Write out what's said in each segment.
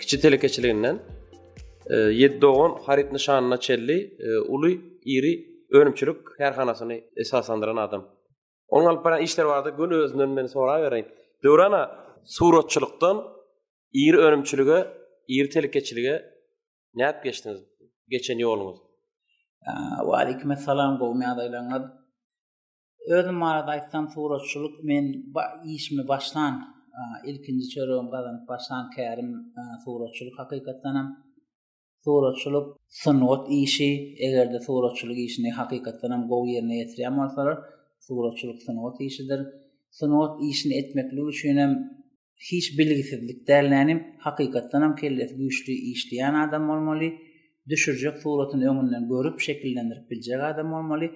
kiçi telekeçiliginden e, ýedi dogan haryt nyşanyna çelli e, uly iri önümçilik kärhanasyny esaslandyran adam. Onuň alyp baran işleri barada göni özünden meni sorap bereýin. Döwrana suratçylykdan iri önümçilige, iri telekeçilige näp geçdiňiz? Geçen ýoluňyz. Wa aleykum assalam, gowy ýagdaýlaryňyz. Özüm barada aýtsam suratçylyk men işimi başlan ilkinji çöregimi gazanyp başlan kärim suratçylyk hakykatdanam suratçylyk sungat işi egerde suratçylyk işini hakykatdanam gowy ýerine ýetirýän bolsalar suratçylyk sungat işidir sungat işini etmeklik üçinem hiç bilgisizlik däl nänim hakykatdanam kellesi güýçli işleýän adam bolmaly düşürjek suratyny öňünden görüp şekillendirip biljek adam bolmaly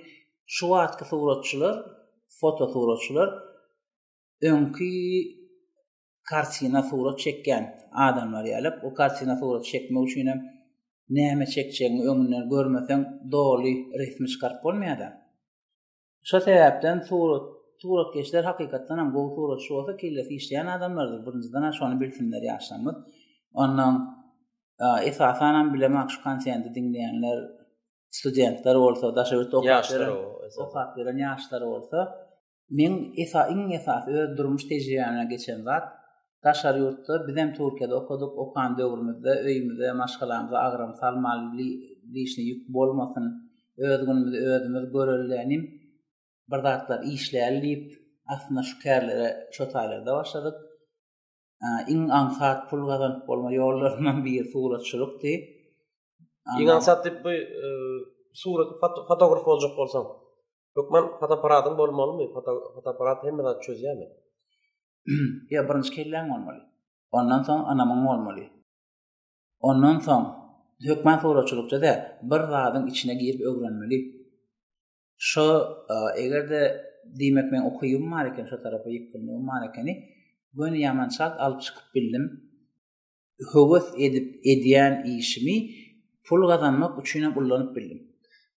şu wagtky suratçylar foto suratçylar öňki kartina surat çekýän adamlar ýaly o kartina surat çekmek üçin hem näme çekjegini öňünden görmeseň doly resmi çykaryp bolmaýar-da. Şo sebäpden surat suratkeşler hakykatdan hem gowy suratçy bolsa kellesi işleýän adamlardyr birinjiden hem şony bilsinler ýaşlarymyz. Ondan esasan hem bilemek şu konsendi diňleýänler studentler bolsa daşa ýurt okaýanlar okap ýören ýaşlar bolsa men esa iň esasy öz durmuş tejribemden geçen zat Daşary ýurtda, bizem Türkiýede okadyk, okan döwrümizde öýümize, maşgalamyza agram salmaly li lişni ýük bolmasyn, öz günümizi özümiz görelilenim, bir zatlar işläli diýip, aslynda şu kärlere şo taýlarda başladyk. Iň aňsat pul gazanyp bolma ýollaryndan biri suratçylykdy. Iň aňsat diýip bu surat fotograf boljak bolsaň, hökman fotoapparatyň bolmalymy? Fotoapparat hemme zady çözýärmi? Ýa birinji kelläň bolmaly. Ondan soň anamyň bolmaly. Ondan soň hökman suratçylykça däl, bir zadyň içine girip öwrenmeli. Şo eger-de diýmek men ukybyň bar eken, şo tarapa ýykgynlygym bar ekeni, göni ýamançalt alyp çykyp bildim. höwes edip edýän işimi pul gazanmak üçin hem ullanyp bildim.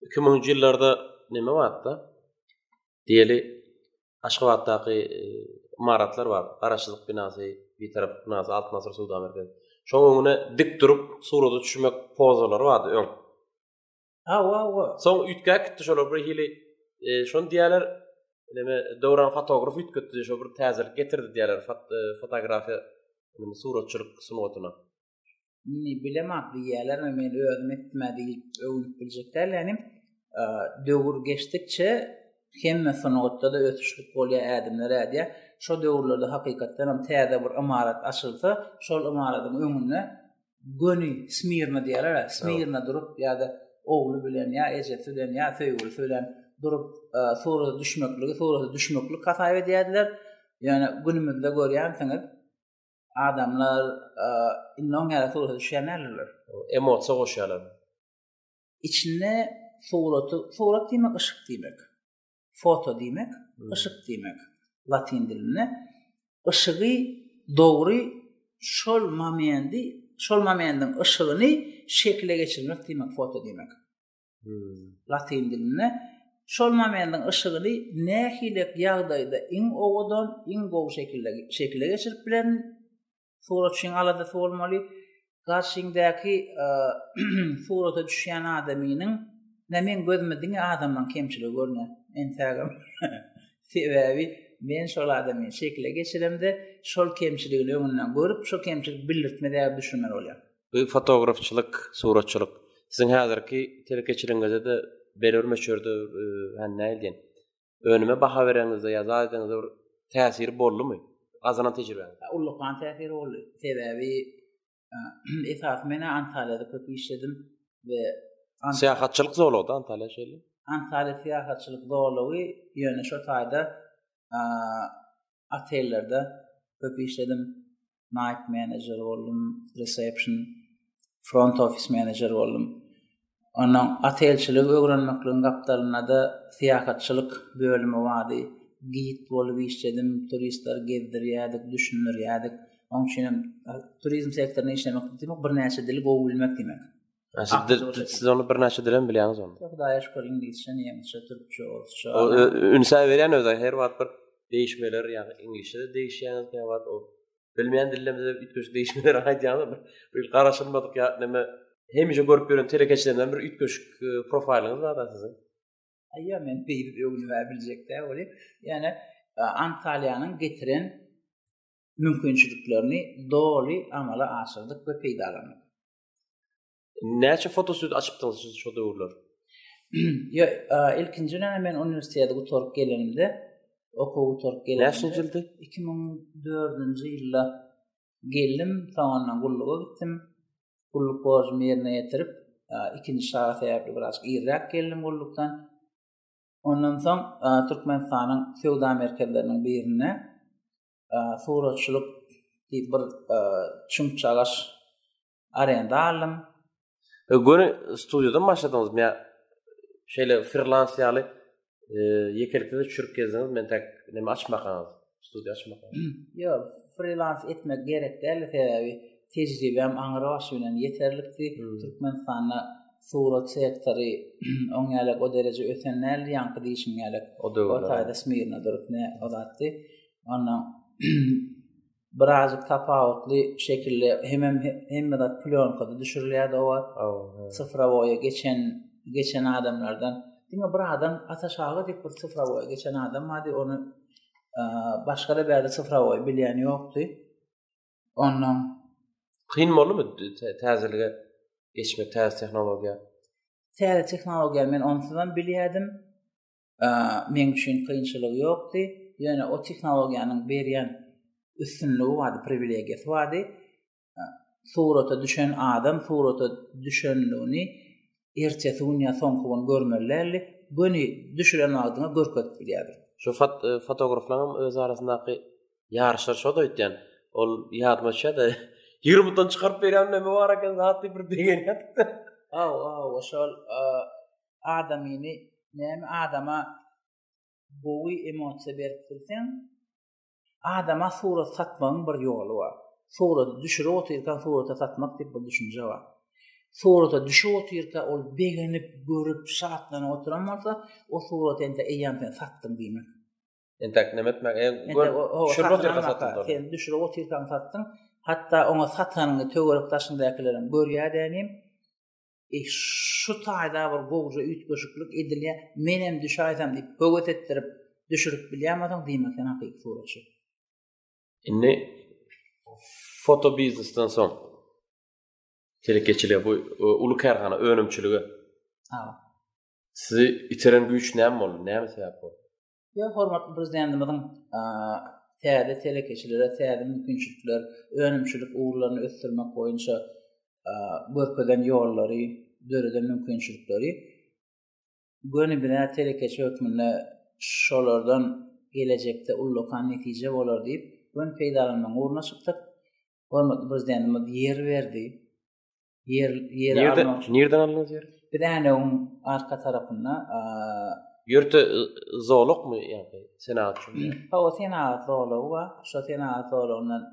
Iki müňünji ýyllarda näme bardy-da? Diýeli, Aşgabatdaky e, ymaratlar bar. Garaşsyzlyk binasy, Bitaraplyk binasy, Altyn asyr söwda merkezi. Şoň öňüne dik durup surata düşmek pozalary bardy öň. Ha, wa, wa. Soň üýtgäp gitdi şolar bir hili. E, şonu diýerler, näme, döwran fotograf üýtgetdi, şo bir täzelik getirdi diýerler fot, e, fotografiýa, näme, suratçylyk sungatyna. Ni bilemok diýerler, men özüm etme diýip öwünip biljek däl, ýani e, döwür geçdikçe hemme sungatda da ösüşlik bolýar, ädimler ädýär. Şo döwürlerde hakykatdan hem täze bir ymarat açylsa, şol ymaratyň öňünde göni smirna diýerler-ä, smirna durup ýa-da ogly bilen ýa ejesi bilen ýa söýgülisi bilen durup e, surata düşmekligi surata düşmeklik hasap edýärdiler. Ýöne günümizde görýänsiňiz, adamlar e, indi oň ýaly surata düşýän däldirler. Emosiýa goşýarlar. Içinde suraty, surat diýmek yşk diýmek. foto diýmek, yşyk diýmek latyn dilinde. Yşygy dogry şol momendi, şol momendiň yşygyny şekile geçirmek diýmek foto diýmek. Hmm. Latyn dilinde şol momendiň yşygyny nähili ýagdaýda iň owadan, iň gowy şekilde şekile geçirip bilen Suratçyň aladasy bolmaly, garşyňdäki surata düşýän adamynyň nä meň gözüme diňe adamlaň kemçiligi görner. Entägem. Sebäbi men şol adamy şekile geçiremde, şol kemçiligini öňünden görüp, şo kemçilik bildirtme däbi düşünmeli bolýar. Bu fotografçylyk, suratçylyk siziň häzirki telekeçiligiňizde-de belbir möçberde, hany nähili diýen, Önüme baha bereňizde ýa zat edeňizde bir täsiri boldumy? Gazanan tejribäňiz? Ullakan täsiri boldy. Sebäbi esasy men Antalýada köp işledim we Syýahatçylyk zolagda Antalýa şeýle. Antalýa syýahatçylyk zolagy ýöne şo taýda otellerde köp işledim. Night manager boldum, reception, front office manager boldum. Ondan otelçilik öwrenmekligiň gapdalynda da syýahatçylyk bölümi bardy. Gid bolup işledim, turistler gezdirýärdik, düşündirýärdik. Onuň üçin hem turizm sektorynda işlemek diýmek birnäçe dili gowy bilmek diýmek. Siz onu bir naşa dilen bilýäňiz onu. Yok da yaş kor İngilizce, Nemçe, Türkçe, Orsça. O ünsa berýän öz her wagt bir değişmeler ya İngilizce de değişýäňiz ne wagt o. Bilmeýän dillerimize ütkeş değişmeler aýdýanlar bir bir garaşylmadyk ya neme hemişe görüp gören telekeçilerinden bir ütkeş e, profiliňiz bar da siziň. Aýa men bir öňüni ber biljek de oly. Yani e, Antalyanyň getiren mümkinçiliklerini doly amala aşyrdyk we peýdalandyk. Näçe fotosüýt açypdyňyz siz şo döwürler? Ýa, ilkinji näme men uniwersiteti gutaryp gelenimde, okuw gutaryp gelenimde. Näçinji ýyldy? 2004-nji ýylda geldim, soňra gulluga gitdim. Gulluk borjumy ýerine ýetirip, ikinji şaga sebäpli biraz irräk geldim gullukdan. Ondan soň Türkmenistanyň söwda merkezleriniň birinde suratçylyk diýip bir çümçagaş arenda aldym. E, göni studiýadan başladyňyzmy ýa şeýle freelans ýaly e, ýekelikde de çürük gezdiňiz, men täk näme açmakaňyz, studiýa açmakaňyz. Ýok, freelans etmek gerek däl, sebäbi tejribem aňry başy bilen ýeterlikdi. Hmm. Türkmenistanda surat sektory oň ýaly o dereje ösen däldi, ýaňky diýişim ýaly. O da o taýda smirna durup ne olatdy. Ondan birazcık tapawutly şekilde hem hem hem de plyonkada düşürilýärdi o wagt. Sıfıra boya geçen geçen adamlardan. Diňe bir adam ata şaga diýip bir sıfıra boya geçen adam bardy. Onu e, başga da bäri sıfıra boya bilýän ýokdy. Ondan kyn boldumy täzelige geçmek täze tehnologiýa? Täze tehnologiýa men onsuzam bilýärdim. meň üçin kynçylygy ýokdy. Ýöne o tehnologiýanyň berýän üstünligi bardy, priwilegiýasy bardy. Surata düşen adam surata düşenligini ertesi gün ýa soňky gün görmeli däldi. Göni düşüren wagtyňa görkezip bilýärdi. Şu fot e, fotograflaryň öz arasyndaky ýaryşlar şo da ötýän. Ol ýadyma düşýär-de. Ýurumdan çykaryp berýän näme bar eken, zat diýip bir begenýärdik-de. Aw, aw, şol adamyny näme adama gowy emosiýa berip bilseň adama surat satmagyň bir ýoly bar suraty düşürip otyrka surata satmak diýip bir düşünje bar surata düşüp otyrka ol begenip görüp şatlanyp oturan bolsa o suraty ente eýýäm sen satdyň diýmek entek näme etmek e düşürip otyrka satdyň sen düşürip otyrka satdyň hatda oňa satanyny töwerek daşyndakileriň görýär dänim E, şu taýda bir gowja üýtgeşiklik edilýär, menem düşäýsem diýip höwes etdirip düşürip bilýärmiň diýmek sen hakyky suratçy. Indi foto biznesden soň telekeçilige bu e, uly kärhana önümçilige. Ha. Sizi iteren güýç näme boldy? Näme sebäp boldy? Ýa hormatly prezidentimiziň täze telekeçilere täze mümkinçilikler, önümçilik ugurlaryny ösdürmek boýunça görkezen ýollary, döreden mümkinçilikleri göni bina telekeçi hökmünde şolardan gelecekde ullakan netije bolar diýip, göni peýdalanmagyň ugruna çykdyk. Hormatly prezidentimiz ýer berdi. Ýer ýer almak. Nirden aldyňyz ýeri? Biz änewiň arka tarapynda ýörte zolakmy ýa-da senagat üçin? Ha, o senagat zolagy bar. Şo senagat zolagyndan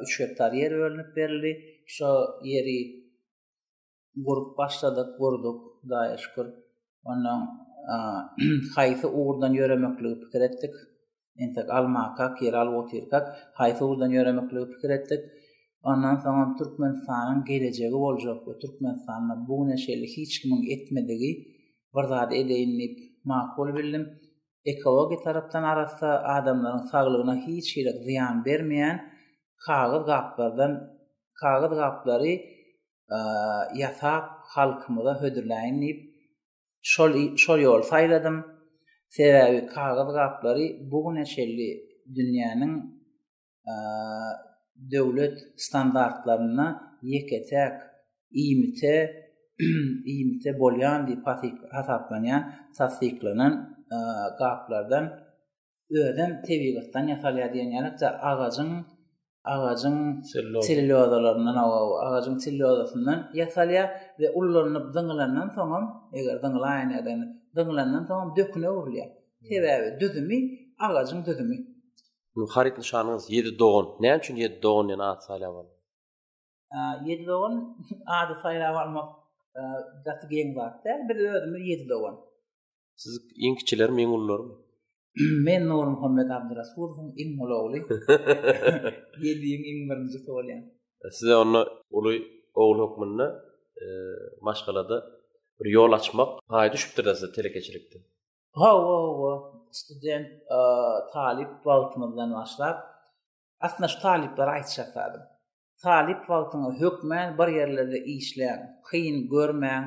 3 gektar ýer bölünip berildi. Şo ýeri gurup başladyk, gurduk, daýy şükür. Ondan haýsy ugurdan ýöremekligi pikir etdik. Entek almakak, ýer alyp otyrkak, haýsy ugurdan ýöremekligi pikir etdik. Ondan soňam Türkmenistanyň gelejegi boljak we Türkmenistanda bu güne şeýle hiç kimiň etmedigi bir zady edeýin diýip makul bildim. Ekologiýa tarapdan arassa, adamlaryň saglygyna hiç hili zyýan bermeýän kagyz gaplardan kagyz gaplary ýasap halkymyza hödürläýin diýip Şol şol ýoly saýladym. Sebäbi kagyz gaplary bu güne çenli dünýäniň döwlet standartlarynda ýeke-täk iýmite iýmite bolýan diýip hasaplanýan tassyklanan gaplardan özem tebigatdan ýasalýar diýen ýaly agajyň agajyň sellulozalaryndan agajyň sellulozasyndan ýasalýar we ullanyp zyňylandan soň hem eger zyňylaýan ýadan zyňylandan soň hem döküne öwrülýär. Sebäbi düzümi agajyň düzümi. Bu haryt nyşanyňyz ýedi dogan. Näme üçin ýedi dogan diýen at saýlap aldyň? Ýedi dogan ady saýlap almak gaty geň zat däl. Biz özümiz ýedi dogan. Siz iň kiçiler mi, iň ulular mi? Men Nur Muhammed Abdurasulowyň iň uly ogly. Ýediň iň birinji bolýan. E, size onda uly ogul hökmünde e, maşgalada bir ýol açmak paýy düşüpdir da size telekeçilikde. Ha, ha, ha. Student, e, talyp wagtymyzdan başlap, aslynda şu talyplara aýtjak zadym. Talyp wagtyňyz hökmän bir ýerlerde işläň, kyn görmäň,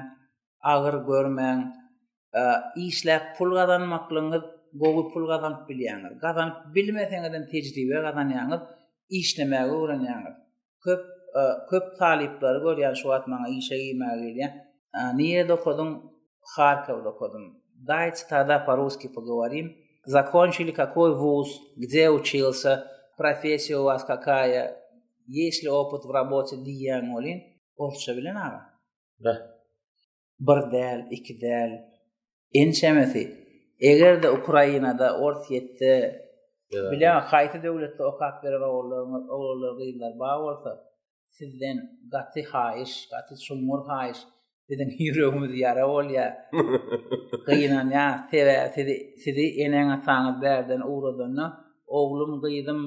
agyr görmäň. Işläp pul gazanmaklygyňyz gowy pul gazanyp bilýäňiz. Gazanyp bilmeseňizem tejribe gazanýaňyz, işlemäge öwrenýäňiz. Köp köp talyplary görýän şu wagt maňa işe girmäge gelýän. Nirede okadyň? Harkowda okadym. Daýç tada po-russkiý pogoworim. Zakonçili kakoý wuz, gde uçilsa, professiýa u was kakaýa, ýeşli opyt w robote diýýäň welin, orsça bilen aga? Be. Bir däl, iki däl. Ençemesi. Eger-de Ukrainada, Orsýetde, bileňok haýsy döwletde okap beren ogullarňyz, oglanlar, gyzlar bar bolsa, sizden gaty haýyş, gaty çuňňur haýyş. Biziň ýüregimiz ýara bolýar. Gynanýar, sebäbi sizi, sizi eneň-ataňyz bärden ugradanda, oglum, gyzym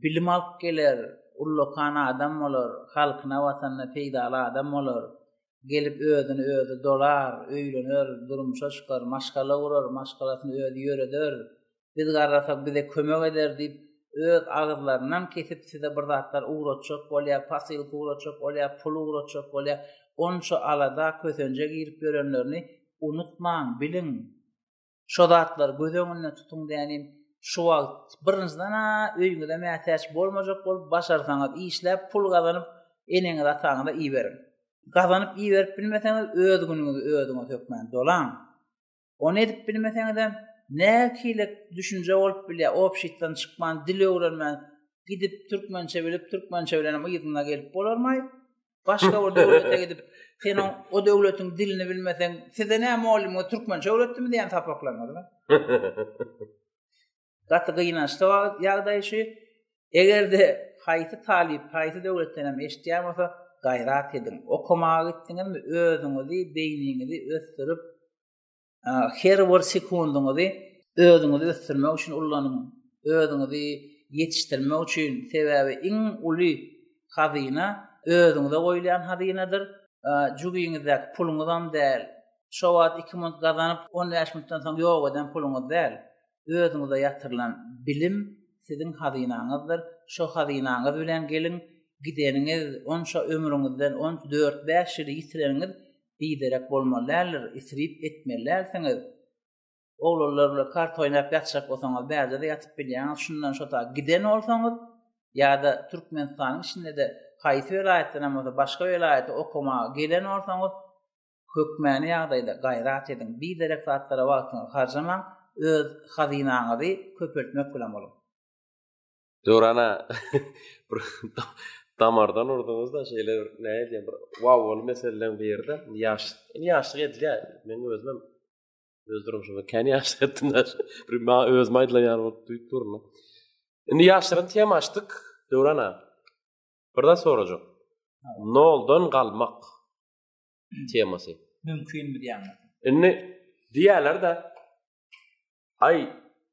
bilim alyp geler, ullakan adam bolar, halkyna, watanyna peýdaly adam bolar. Gelip özüni özi dolar, öýlener, durmuşa çykar, maşgala gurar, maşgalasyny özi ýöreder. Biz garrasak bize kömek eder diýip öz agyzlarynam kesip size bir zatlar ugratjak bolýar, posylka ugratjak bolýar, pul ugratjak bolýar. Onça alada, kösenje girip ýörenlerini unutmaň, biliň. Şo zatlary göz öňünde tutuň dänim. Şu wagt birinjiden-ä öýüňize mätäç bolmajak bolup, başarsaňyz işläp pul gazanyp, eneňiz-ataňyza iberiň. Gazanyp iberip bilmeseňiz öz günüňizi özüňiz hökmän dolaň. Ony edip bilmeseňizem, nähili düşünje bolup bilýär, obşitdan çykman, dil öwrenmän, gidip türkmençe bilip, türkmençe bilenem yzyna gelip bolarmaý? Başga bir döwlete gidip, sen o, o döwletiň dilini bilmeseň, size näme mugallymyňyz türkmençe öwretdimi diýen sapaklaryňyzmy? Gaty gynançly ýagdaý şu. Eger-de haýsy talyp haýsy döwletden hem eşitýän bolsa, gaýrat ediň. Okamaga gitdiňizmi, özüňizi, beýniňizi ösdürip, her bir sekundyňyzy özüňizi ösdürmek üçin ullanyň. Özüňizi ýetişdirmek üçin, sebäbi iň uly hazyna özüňize goýulýan hazynadyr. Jübiňizdäki puluňyzam däl. Şo wagt iki minut gazanyp, on bäş minutdan soň ýok eden puluňyz däl. özüňize ýatyrylan bilim siziň hazynaňyzdyr, şo hazynaňyz bilen geliň, gideniňiz, onça ömrüňizden on dört-bäş ýyly ýitireniňiz biderek bolmaly däldir, isrip etmeli dälsiňiz. Oglanlar bilen karta oýnap ýatjak bolsaňyz, bärde-de ýatyp bilýäňiz, şundan şo ta giden bolsaňyz, ýa-da Türkmenistanyň içinde-de haýsy welaýatdanam bolsa başga welaýata okamaga gelen bolsaňyz, Hökmany ýagdaýda gaýrat ediň, biderek zatlara wagtyňyzy harjamaň, öz hazynaňyzy köpeltmek bilen boluň. Döwrana bir damardan urduňyzda şeýle bir näme diýen bir wow bol meseleleň birde ýaş indi ýaşlyk edilýär men özüm öz durmuşymda kän ýaşlyk etdim bir maňa özüme aýdylan ýaly bolup duýup durun indi ýaşlaryň tema açdyk döwrana birde sorajak noldan galmak temasy. Mümkin mi diýýän. Indi diýýärler de Ay,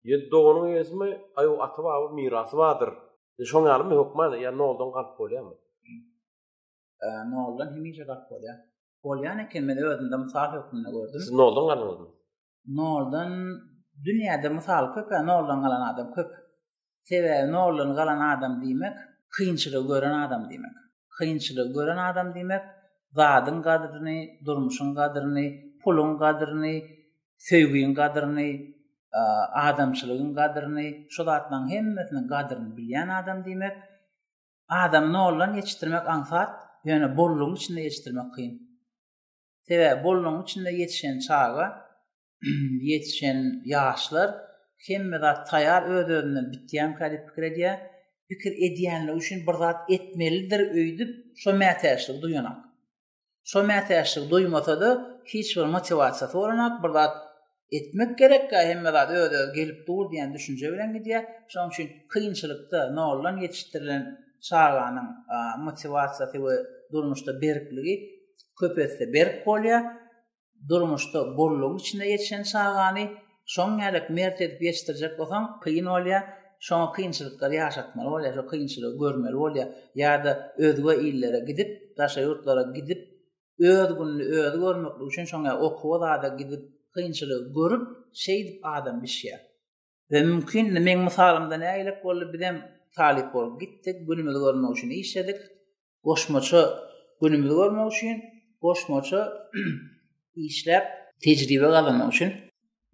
ýedi doganyň eýesimi, aý o ata baba mirasy bardyr. E, şoň ýalymy hökman, ýa noldan galyp bolýarmy? E, noldan hemişe galyp bolýar. Bolýan eken, men özümde mysal hökmünde gördüm. Siz noldan galyňyzmy? Noldan dünýäde mysal köp, noldan galan adam köp. Sebäbi noldan galan adam diýmek, kynçylygy gören adam diýmek. Kynçylygy gören adam diýmek, zadyň gadryny, durmuşyň gadryny, puluň gadryny, söýgiň gadryny, adamçylygyň gadryny, şu zatlaryň hemmesiniň gadryny bilýän adam diýmek. Adam noldan geçdirmek aňsat, ýöne bollugyň içinde geçdirmek kyn. Sebäbi bolnuň içinde ýetişen çaga, ýetişen ýaşlar hemme zat taýar öz-özünden bitýänkä diýip pikir edýär. Pikir edýänligi üçin bir zat etmelidir öýdüp şo mätäçligi duýanak. Şo mätäçligi duýmasa-da hiç bir motiwasiýasy bolanak, bir zat etmek gerekkä hemme zat öz özi gelip dur diýen düşünje bilen gidýär. Şonuň üçin kynçylykda noldan ýetişdirilen çaganyň motiwasiýasy we durmuşda berkligi köp esse berk bolýar. Durmuşda bollugyň içinde ýetişen çagany şoň ýaly mert edip ýetişdirjek bolsaň kyn bolýar. Şoňa kynçylyklary ýaşatmaly bolýar, şo kynçylygy görmeli bolýar ýa-da özge illere gidip, daşary ýurtlara gidip öz gününi özi görmeklik üçin şoň ýaly okuwa zada gidip kynçylygy görüp şeýdip adam bişýär. We mümkin indi meň mysalymda nägilek boldy bizem talyp bolup gitdik günümizi görmek üçin işledik goşmaça günümizi görmek üçin goşmaça işläp tejribe gazanmak üçin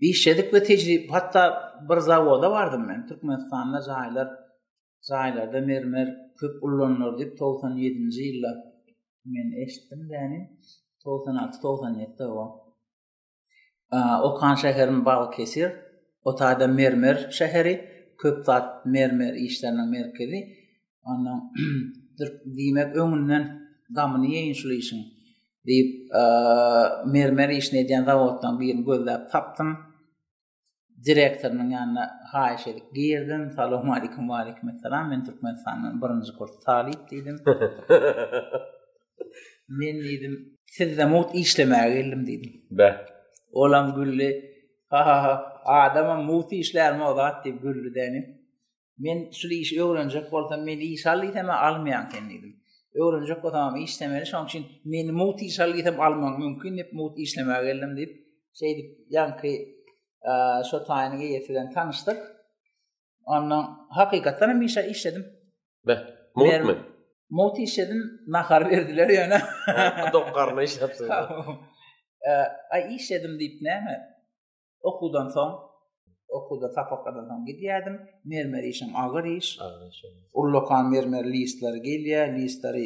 işledik we tejribe hatda bir zawoda bardym men Türkmenistanda jaýlar jaýlarda mermer köp ullanylar diýip togsan ýedinji ýylda men eşitdim däni togsan alty togsan ýetide o okan şäherim balkesir o taýda mermer şäheri köp zat mermer işleriniň merkezi ondan diýmek öňünden gamyny ýeýin şul işiň diýip mermer işini edýän zawoddan birini gözläp tapdym direktorynyň ýanyna haýyş edip girdim. Salam aleykum, aleykum salam. Men Türkmenistandan birinji kurs talyp diýdim. Men diýdim, sizde mugt işlemäge geldim diýdim. Bä. Olam güldi. Ha ha ha. Adama mugt işlärmi o zat diýip güldi däni. Men şu işi öwrenjek bolsam, men iş al diýsem, almaýan sen diýdim. Öwrenjek bolsam, işlemeli, şoň üçin meni mut iş al diýsem, almagyň mümkin diýip, mut işlemäge geldim diýip, şeýdip, ýaňky şo taýynyň eýesi bilen tanyşdyk. Ondan hakykatdan hem işe işledim. Be, mutmy? Mut işledim, nahar berdiler ýöne. Dokgarna işläpsiň. Aý işledim diýip näme? Okuwdan soň okuwda sapaklardan soň gidýärdim. Mermer işim agyr iş. Ullakan mermer listleri gelýär, listleri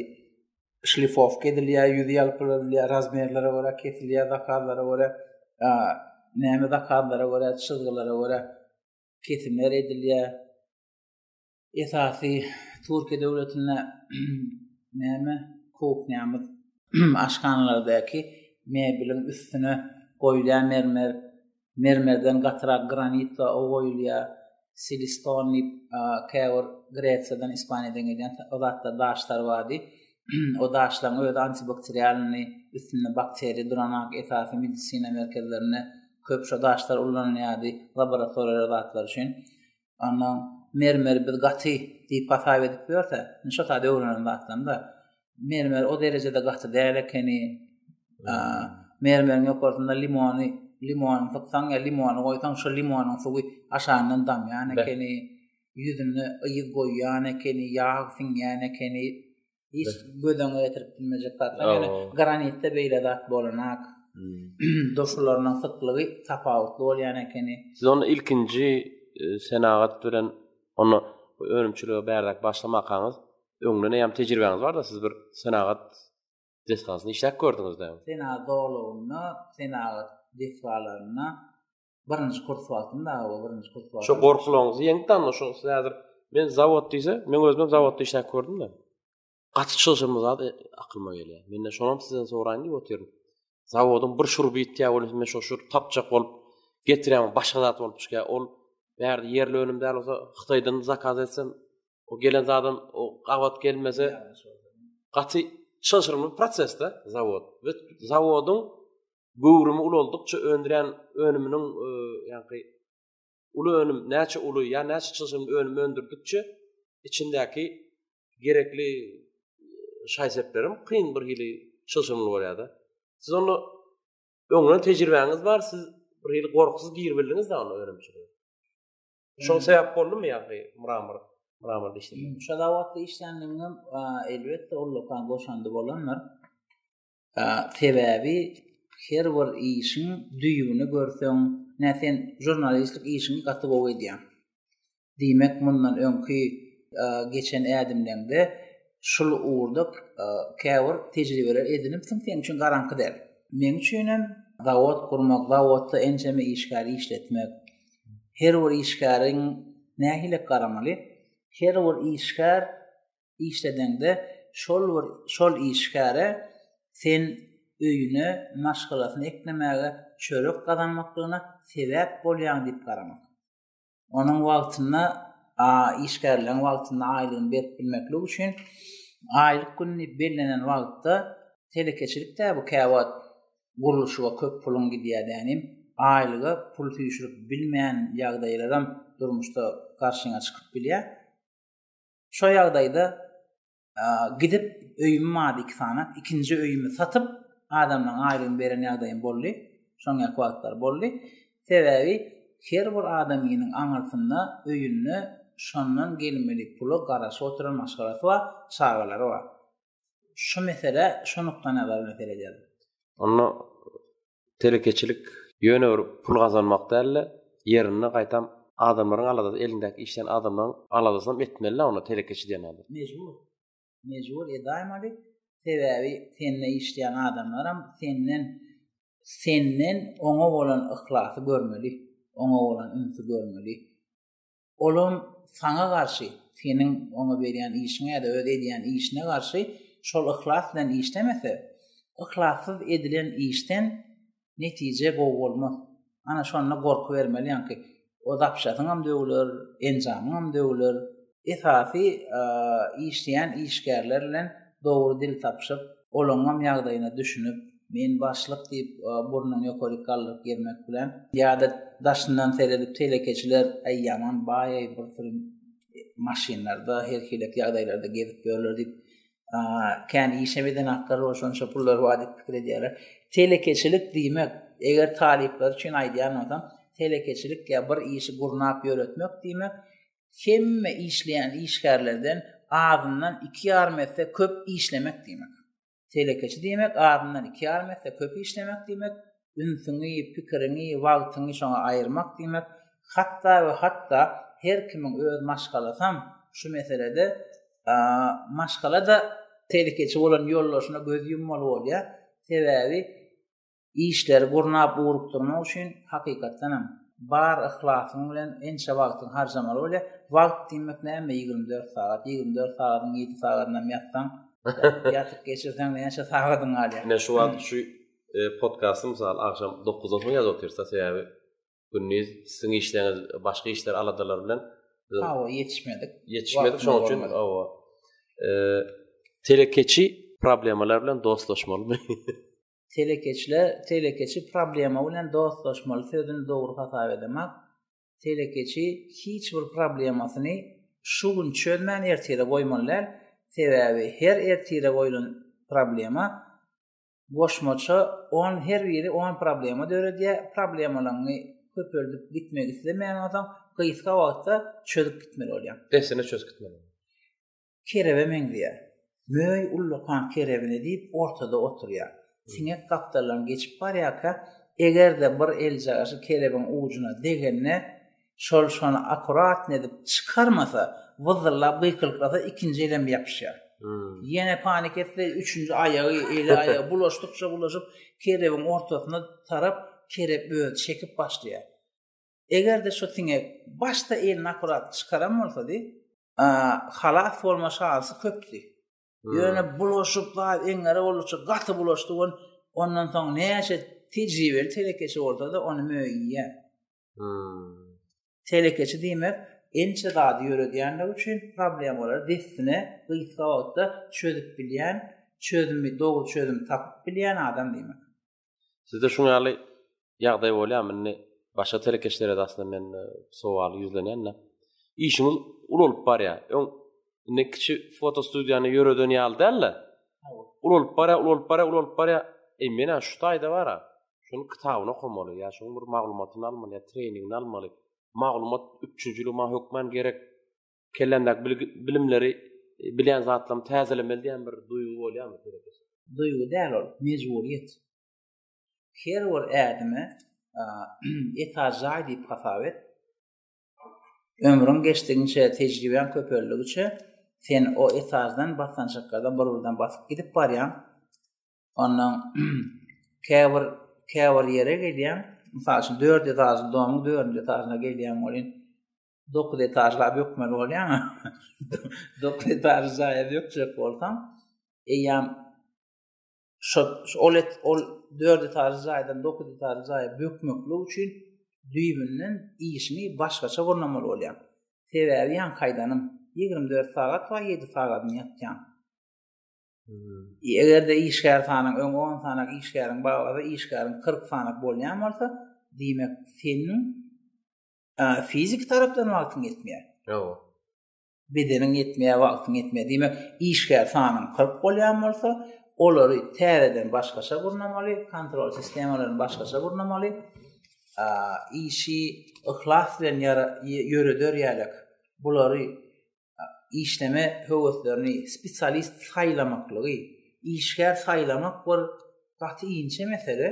şlifowka edilýär, ýüzi ýalpyladylýar, razmerlere görä kesilýär, zakazlara görä, näme zakazlara görä, çyzgylara görä kesimler edilýär. esasy Türkiýe döwletinde näme kuhnýamyz aşhanalardäki mebiliň üstüne goýulýan mermer mermerden gatyrak granit we o goýulýar siliston diýip käbir gresiýadan ispaniýadan gelýän o zatlar daşlar bardy o daşlaryň öz antibakterialny üstünde bakteriýa duran ak esasy medisina merkezlerinde köp şu daşlar ullanylýardy laboratoriýa zatlar üçin Ondan mermeri biz gaty diýip hasap edip ýörse, indi şo saat öwrenen zatlarynda mermer o derejede gaty däl ekeni. Mermeriň ýokarsynda limony, limony sypsaň ýa limony goýsaň, şo limonyň suwy aşagyndan damýan ekeni. Ýüzünde ýyg goýýan ekeni, ýag siňýän ekeni. hiç göz öňüne getirip bilmejek zatlar. Ýöne granitde beýle zat bolanak. Hmm. Doşularynyň syklygy tapawutly bolýan ekeni. Siz onu ilkinji e, senagat bilen onu önümçilige bärde başlamakaňyz öňden hem tejribäňiz barda siz bir senagat desgasyny işläp gördüňizde. Senagat dogulygynda senagat desgalarynda birinji kurs wagtynda o birinji kurs wagtynda. Şu gorkulaňyzy ýeňip danda şu siz häzir men zawod diýse, men özüm zawodda işläp gördüm de. Gaty çylşyrymly zat e, akylyma gelýär. Mende şonam sizden soraýyn diýip otyryn. Zawodyň bir şuruby ýitýär bolsa men şu şur tapjak bolup getirýän başga zat bolup çykýar. Ol bärde ýerli önüm däl bolsa Hytaýdan zakaz etsem o gelen zadam o gabat gelmese gaty çylşyrymly prosesde zawod. Zawodyň göwrümi ulaldykça öndüren önüminiň e, ýa-da uly önüm näçe uly ýa näçe çylşyrymly önüm öndürdikçe içindäki gerekli e, şaýseplerim kyn bir hili çylşyrymly bolýar-da. Siz onda öňden tejribäňiz bar, siz bir hili gorkusyz girip bildiňiz da onda önümçilige. Şol sebäp boldumy ýa-da mramor mramor dişli? Şo wagtda işländigim elbetde ol lokan goşandy bolandyr. Sebäbi her bir işiň düýbüni görseň, nä sen žurnalistlik işiňi gaty gowy edýäň. Diýmek, mundan öňki geçen ädimleňde şul ugurda käbir tejribeler edinipsiň, seň üçin garaňky däl. Meň üçin hem zawod gurmak, zawodda ençeme işgäri işletmek, her bir işgäriň nähili garamaly? Her bir işgär işledeňde şol bir şol işgäre sen öýüne maşgalasyny eklemäge çörek gazanmaklygyna sebäp bolýaň diýip garamak. Onuň wagtynda a işgärleriň wagtynda aýlygyny berip bilmeklik üçin aýlyk gün diýip bellenen wagtda telekeçilik dä bu käwagt gurluşyga köp puluň gidýär dänim aýlyga pul süýşürip bilmän ýagdaýlaram durmuşda garşyňa çykyp bilýär. Şo ýagdaýda gidip öýümi mady iki sany, ikinji öýümi satyp, adamdan aýlygyny beren ýagdaýym boldy. Şoň ýaly wagtlar boldy. Sebäbi her bir adamynyň aňyrsynda, öýünde şondan gelmeli pula garaşyp oturan maşgalasy bar, çagalary bar. Şu mesele şu nukdaýnazardan seredýäris. Onda Telekeçilik ýöne bir pul gazanmak dälde ýerinde gaýtam adamlaryň aladasy elindäki işden adamlaryň aladasynam etmelidä onda telekeçi diýen adam. Mejbur. Mejbur edaýmaly. Sebäbi sende işleýän adamlaram senden senden oňa bolan yhlasy görmeli. Oňa bolan ünsi görmeli. olam saňa garşy, seniň oňa berýän işiňe ýa-da öz edýän işine garşy şol yhlas bilen işlemese, yhlassyz edilen işden netije gowy bolmaz. Ana şonda gorky bermeli ýaňky o zapşasyňam döwüler, enjamyňam döwüler. Esasy işleýän işgärler bilen dogry dil tapyşyp, olaňňam ýagdaýyna düşünip, Men başlyk diýip, burnuny ýokaryk galdyryp ýermek bilen. Ýa-da daşyndan seredip, telekeçiler, Äý, ýaman baý-eý, bir sürüm maşynlarda, her hili ýagdaýlarda gezip ýörler diýip, kän işem edenaklar bar, şonça pullary bar diýip pikir edýärler. Telekeçilik diýmek, eger talyplar üçin aýdýan bolsam, telekeçilik ýa bir işi gurnap ýöretmek diýmek, hemme işleýän işgärlerden azyndan iki ýarym esse köp işlemek diýmek. Telekeçi diýmek azyndan iki ýarym esse köp işlemek diýmek, ünsüňi, pikiriňi, wagtyňy şoňa aýyrmak diýmek, hatda we hatda her kimiň öz maşgalasam şu meselede maşgala-da telekeçi bolan ýoldaşyna göz ýummaly bolýar. Sebäbi Işleri gurnap ugrukdyrmak üçin hakykatdan hem bar yhlasyň bilen ençe wagtyňy harjamaly bolýar. Wagt diýmek näme ýigrimi dört sagat, ýigrimi dört sagadyň ýedi sagadyny hem ýatsaň, ýatyp geçirseň näçe sagadyň galýar. Ine şu wagt şu podkasty mysal agşam dokuzdan soň ýazyp otyrsa sebäbi gündiz siziň işleriňiz başga işler aladalar bilen hawa ýetişmedik. Ýetişmedik şoň üçin hawa. Telekeçi problemalar bilen dostlaşmalymy? Telekeçiler, telekeçi problema bilen dostlaşmaly sözüni dogry hasap edemok. Telekeçi hiç bir problemasyny şu gün çözmän ertire goýmaly däl. Sebäbi her ertire goýlan problema goşmaça 10 her biri 10 problema döredýär. Problemalaryňy köpeldip gitmek islemeýän bolsaň, gysga wagtda çözüp gitmeli bolýar. Dessine çözüp gitmeli. kerebe meňzeýär. Möý ullakan kerebini diýip ortada oturýar. Siňek gapdaldan geçip barýarka, eger-de bir eljagaşy kerebiň ujuna degende, şol şony akuratny edip çykarmasa, wyzzyllap gykylyklasa, ikinji elem ýapyşýar. Ýene panik etse, üçünji aýagy, eli aýagy bulaşdykça bulaşyp, kerebiň ortasyna tarap kerep özi çekip başlaýar. Eger-de şu siňek başda elini akurat çykaran bolsady, halas bolma şansy köpdi. Ýöne bulaşyp bar eňňere boluşy gaty bulaşdy on ondan soň näçe tejribeli telekeçi bolsa-da ony möýýä. Telekeçi diýmek ençe zady ýöredýänligi üçin problemalary dessine gysga wagtda çözüp bilýän, çözümi dogry çözüm tapyp bilýän adam diýmek. Sizde şuň ýaly ýagdaý bolýarmy? Indi başga telekeçilere aslynda men e, sowal ýüzlenýän-de. Işiňiz ulalyp barýar. Öň indi kiçi fotostudiýany ýöreden ýaly däl-de. Ulalyp barýar, ulalyp barýar, ulalyp barýar. Eý, men şu taýda bara. Şuny kitabyny okamaly, ýa şuň bir maglumatyny almaly, ýa treningini almaly. Maglumat üpjünçiligi maňa hökman gerek. Kelländäki bilimleri, bilýän zatlarymy täzelemeli diýen bir duýgy bolýarmy seredesi? Duýgy däl ol, mejburyýet. Her bir ädimi etaj jaý diýip hasap et. Ömrüň geçdigiçe, tejribäň köpeldigiçe, sen o etajdan, basgançaklardan bir-birden basyp gidip barýaň. Ondan käbir käbir ýere gelýäň. Mysal üçin, dördüz etažly domuň dördünji etažyna gelýäň welin, Dokuz etajla bökmeli bolýan. Dokuz etajly jaýa bökjek bolsaň, eýýam şu ol et ol dört etajly jaýdan dokuz etajly jaýa bökmeklik üçin düýbünden işini başgaça gurnamaly bolýan. Sebäbi ýan kaýdanyň 24 sagat we 7 sagadyny ýatýan. Hmm. Eger-de işgär sanyň öň 10 sanak işgäriň baglasa, işgäriň 40 sanak bolýan bolsa, diýmek, seniň Fiziki tarapdan wagtyň ýetmeýär. Ýok. Bedeniň ýetmeýär, wagtyň ýetmeýär. Diýmek, işgär sanyň 40 bolýan bolsa, olary täzeden başgaça gurnamaly, kontrol sistemalaryny başgaça gurnamaly. Işi yhlas bilen ýöreder ýaly bulary işleme höweslerini spesialist saýlamaklygy, işgär saýlamak bir gaty inçe mesele.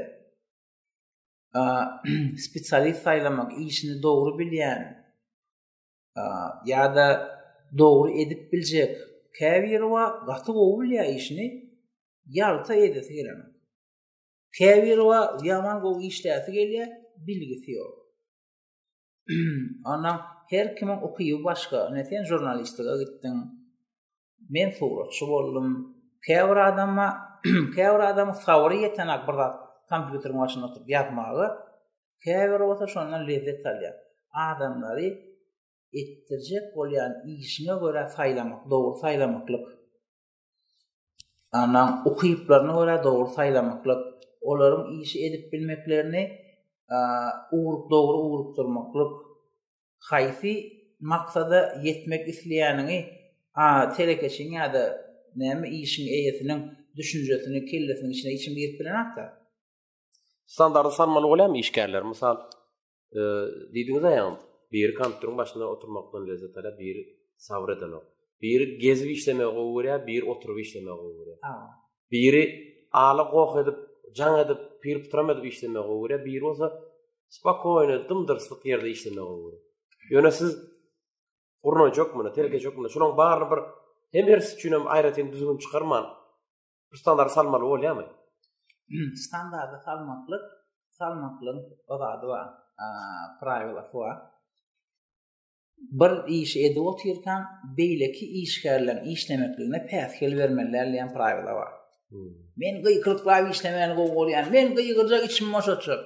spesialist saýlamak işini dogry bilýän ýa-da dogry edip biljek käbiri wa gaty gowy bilýär işini ýalta edesi gelen. Käbiri wa ýaman gowy işläsi gelýär, bilgisi ýok. Ondan her kimiň ukyby başga. Ine sen žurnalistika gitdiň. Men suratçy boldum. Käbir adamma, käbir adam sabry ýeten ak bir zat kompýuteriň başynda oturyp ýazmaga, käbir bolsa şondan lezzet alýar. Adamlary etdirjek bolýan işine görä saýlamak, dogry saýlamaklyk. Annaň ukyplaryna görä dogry saýlamaklyk, olaryň işi edip bilmeklerini ugrup dogry ugrukdyrmaklyk, haýsy maksada ýetmek isleýäniňi a telekeçiň ýa-da näme işiň eýesiniň düşünjesini kellesiniň içine içim girip bilenok-da. Standardy sanmaly bolýarmy işgärler, mysal, Diýdiňiz aýam, biri kompýuteriň başynda oturmakdan lezzet alýar, biri sabr edenok. Biri gezip işlemegi gowy görýär, biri oturyp işlemegi gowy görýär. Biri ala goh edip, jaň edip, pir putram edip işlemegi gowy görýär, biri bolsa spokojny, dymdyrslyk ýerde işlemegi gowy görýär. Ýöne siz gurnajakmyny, terk etjekmini, şolaryň baryny bir hem birisi üçin hem aýratyn düzgün çykarman, Standardy salmaly bolýarmy? Standardy salmaklyk, salmaklyk o zady bar. Praýwla bar. Bir iş edip otyrkan, beýleki işgärler işlemekligine päsgel bermeliler diýen praýwla bar. Hmm. Men gyýkylyklap işlemäni gowy görýän. Men gyýgyrja içim boşatjak.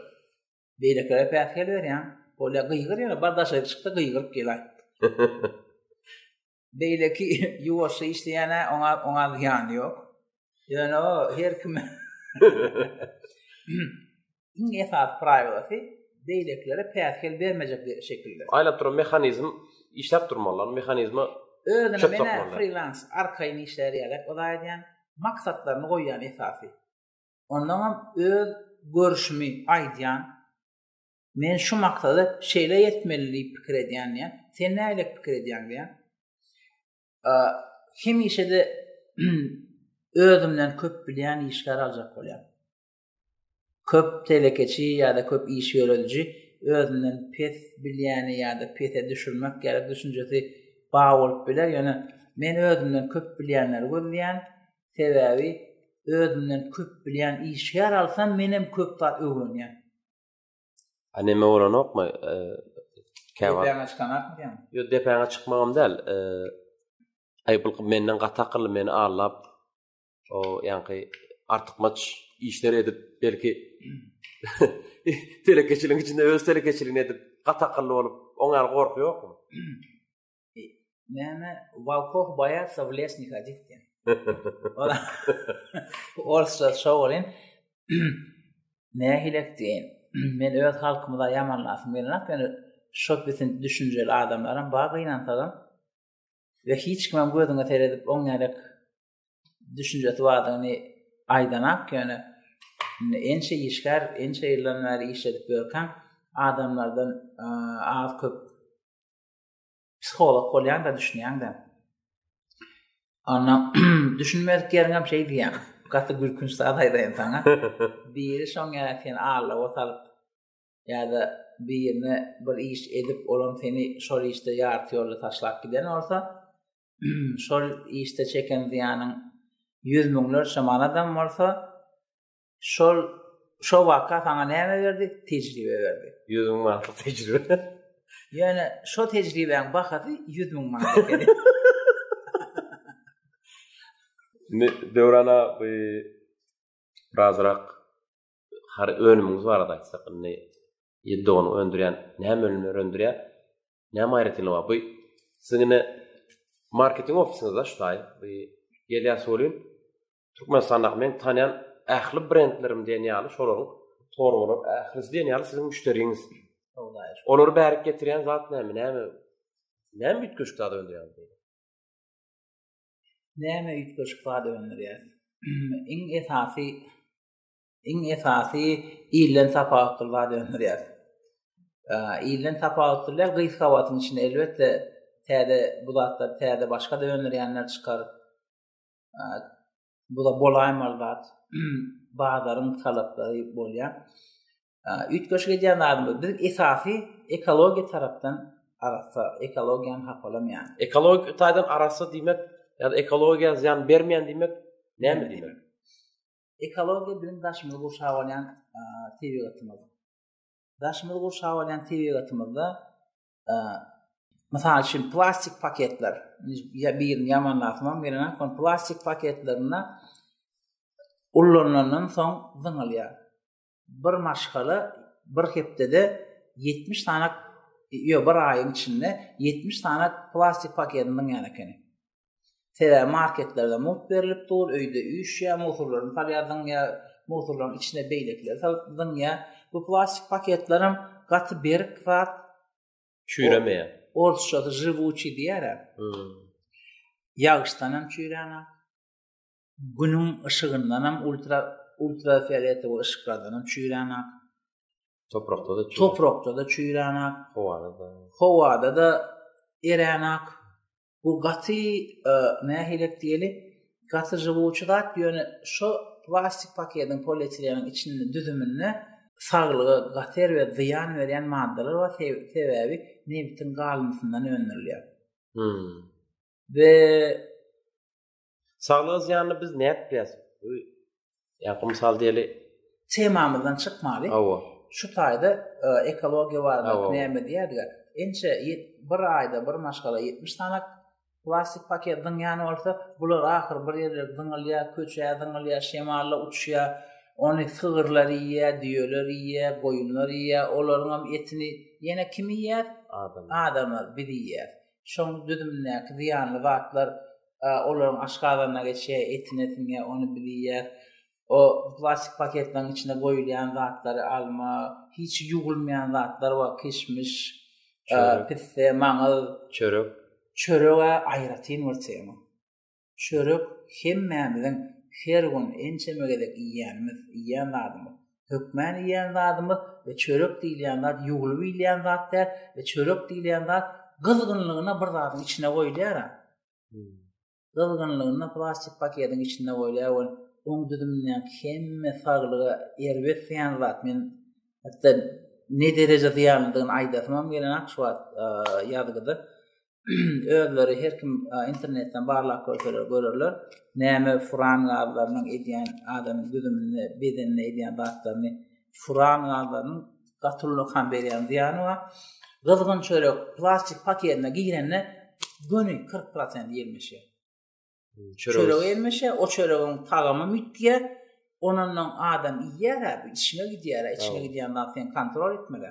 Beýlekilere päsgel berýän. Bolýa gyýgyr ýa bardaşa çykda gyýgyryp gel aýt. beýleki ýuwaşja işleýän oňa oňa ýany ýok. Ýöne o her kim iň esas praýlasy beýlekilere päsgel bermejek şekilde. Aýlap duran mehanizm işläp durmalylar, mehanizme özüne mena frilans arkaýyn işlär ýaly, o da aýdýan maksatlaryny goýýan esasy. Ondan hem öz görüşümi aýdýan Men şu maksada şeýle ýetmeli diýip pikir edýän diýen. Sen näle pikir edýän diýen. Hemişe-de özümden köp bilýän işgär aljak bolýan. Köp telekeçi ýa-da köp iş ýörediji özünden pes bilýäni ýa-da pese düşürmek ýa-da düşünjesi ba bolup biler. Ýöne men özümden köp bilýänleri gözleýän. Sebäbi özümden köp bilýän işgär alsam, menem köp zat öwrenýän. A neme bolanokmy? E, Käwa. Depäňe çykanak diýen. Ýok, depäňe çykmagam däl. E, Aý bu menden gaty akylly meni allap o ýaňky artykmaç işler edip belki telekeçiligiň içinde öz telekeçiligini edip gaty akylly bolup oňa gorky ýokmy? Näme Walkoh boýatsa w lesni kadit diýen. Orsa şowalyn. Nähile diýen. Men öz halkymyza ýamanlasym gelýär. Ýöne şo bitin düşünjeli adamlaram bar gynansadan. Ve hiç kimem gözüňe seredip on gerek düşünjesi bardygyny aýdanak ýöne ençe işgär, ençe ýyldan bäri işledip ýörkäm adamlardan az köp psiholog bolýanda düşünýäňde. Anna düşünmedik ýeriňem şey diýýän. Gaty gülkünç zat aýdaýyn saňa. Biri şoň ýa sen alla ot alyp ýa-da birine bir iş edip, olam seni şol işde ýarty ýolda taşlap giden bolsa, şol işde çeken zyýanyň ýüz müňlerçe manadam bolsa, Şol şo waka saňa näme berdi? Tejribe berdi. 100 müň manat tejribe. Ýöne şo tejribäň bahasy 100 müň manat ekeni. Ne döwrana bu razrak har önümüňiz barada aýtsak, indi ýedi ony öndürýän, näme önümler öndürýär? Näme aýratynlygy bar? Bu siziň indi marketing ofisiňizde şu taý, bu gelýär sorun. Türkmenistandaky men tanýan ähli brendlerim diýen ýaly şolaryň torbalar ählisi diýen ýaly siziň müşderiňiz. Olary bärik getirýän zat näme? Näme? Näme üýtgeşik zat öndürýär? Näme üýtgeşik zat öndürýär? Iň esasy iň esasy ilden tapawutly zat öndürýär. Ilden tapawutly bilen gyz hawatyň içinde elbetde täze bu zatlar täze başga da öndürýänler çykar. Bu da bolaýmaly zat. Bazaryň talaplary bolýar. Üýtgeşik edýän adam biz esasy ekologiýa tarapdan arassa, ekologiýany hapalamýan. Ekologik taýdan arassa diýmek, ýa-da ekologiýa zyýan bermeýän diýmek näme diýmek? Ekologiýa biziň daşymyzy gurşap alýan tebigatymyz. Daşymyzy gurşap alýan tebigatymyzda Mysal üçin plastik paketler. Ya birini ýamanlatmam gelene, kon plastik paketlerinde ullanylandan soň zyňylýar. Bir maşgala bir hepdede 70 sany ýa bir aýyň içinde 70 sany plastik paketini zyňýan ekeni. Sebäbi marketlerde mugt berlip dur, öýde üýşýär, mugsurlaryny salýar, zyňýar, mugsurlaryň içine beýlekileri salyp zyňýar. Bu plastik paketler hem gaty berk zat. Çüýremeýär. Orsçasy žywuçi diýýär. Ýagyşdan hem çüýräne. Günüň yşygyndan hem ultra ultrafioletowy yşyklardan hem çüýräne. Toprakda da çüýräne. Toprakda da çüýräne. Howada da. Howada da eräne. Bu gaty nähilek diýeli, gaty žywuçy zat, ýöne şo plastik paketiň, polietileniň içinde düzüminde saglyga gater we zyýan berýän maddalar bar, sebäbi nebitiň galyndysyndan öndürilýär. We Saglyga zyýanly biz nätpýäs? Ýa-da mysal diýeli. Temamyzdan çykmaly. Hawa. Şu taýda e, ekologiýa barada näme diýerdiga? Ençe bir aýda bir maşgala 70 sany plastik paket zyňýan bolsa, bular ahyr bir ýerler zyňylýar, köçä zyňylýar, şemalla uçýar. Ony sygyrlar iýýär, düýeler iýýär, goýunlar iýýär. Olaryň hem etini ýene kim iýýär? Adamlar. Adamlar biz iýýär. Şoň düzümindäki zyýanly zatlar olaryň aşgazanyna geçýär, etine siňýär, ony biz iýýäs. O plastik paketleriň içine goýulýan zatlary alma, hiç ýuwulmaýan zatlar bar, kişmiş, pisse, maňyz, çörek. Çörege aýratyn bir tema. Çörek hemmämiziň her gün ençeme gezek iýýänimiz, iýýän zadymyz. Hökmän iýýän zadymyz we çörek diýilýän zat ýuwlup iýilýän zat däl we çörek diýilýän zat gyzgynlygyna bir zadyň içine goýulýar. Hmm. Gyzgynlygyna plastik paketiň içine goýulýar we oň düzümindäki hemme saglyga erbet diýen zat men hatda ne dereje zyýanlydygyny aýdasym hem gelenok şu wagt ýazgyda. özleri her kim internetden barlap görseler görerler. Näme furan gazlarynyň edýän adamyň düzüminde, bedeninde edýän zatlaryny furan gazlarynyň gatullyk hem berýän zyýany bar. Gyzgyn çörek plastik paketine girende göni 40% ýelmeşe. Çörek ýelmeşe, o çöregiň tagamy mütge. Onundan adam iýýär, içine gidýär, içine gidýän zat sen kontrol etmeli.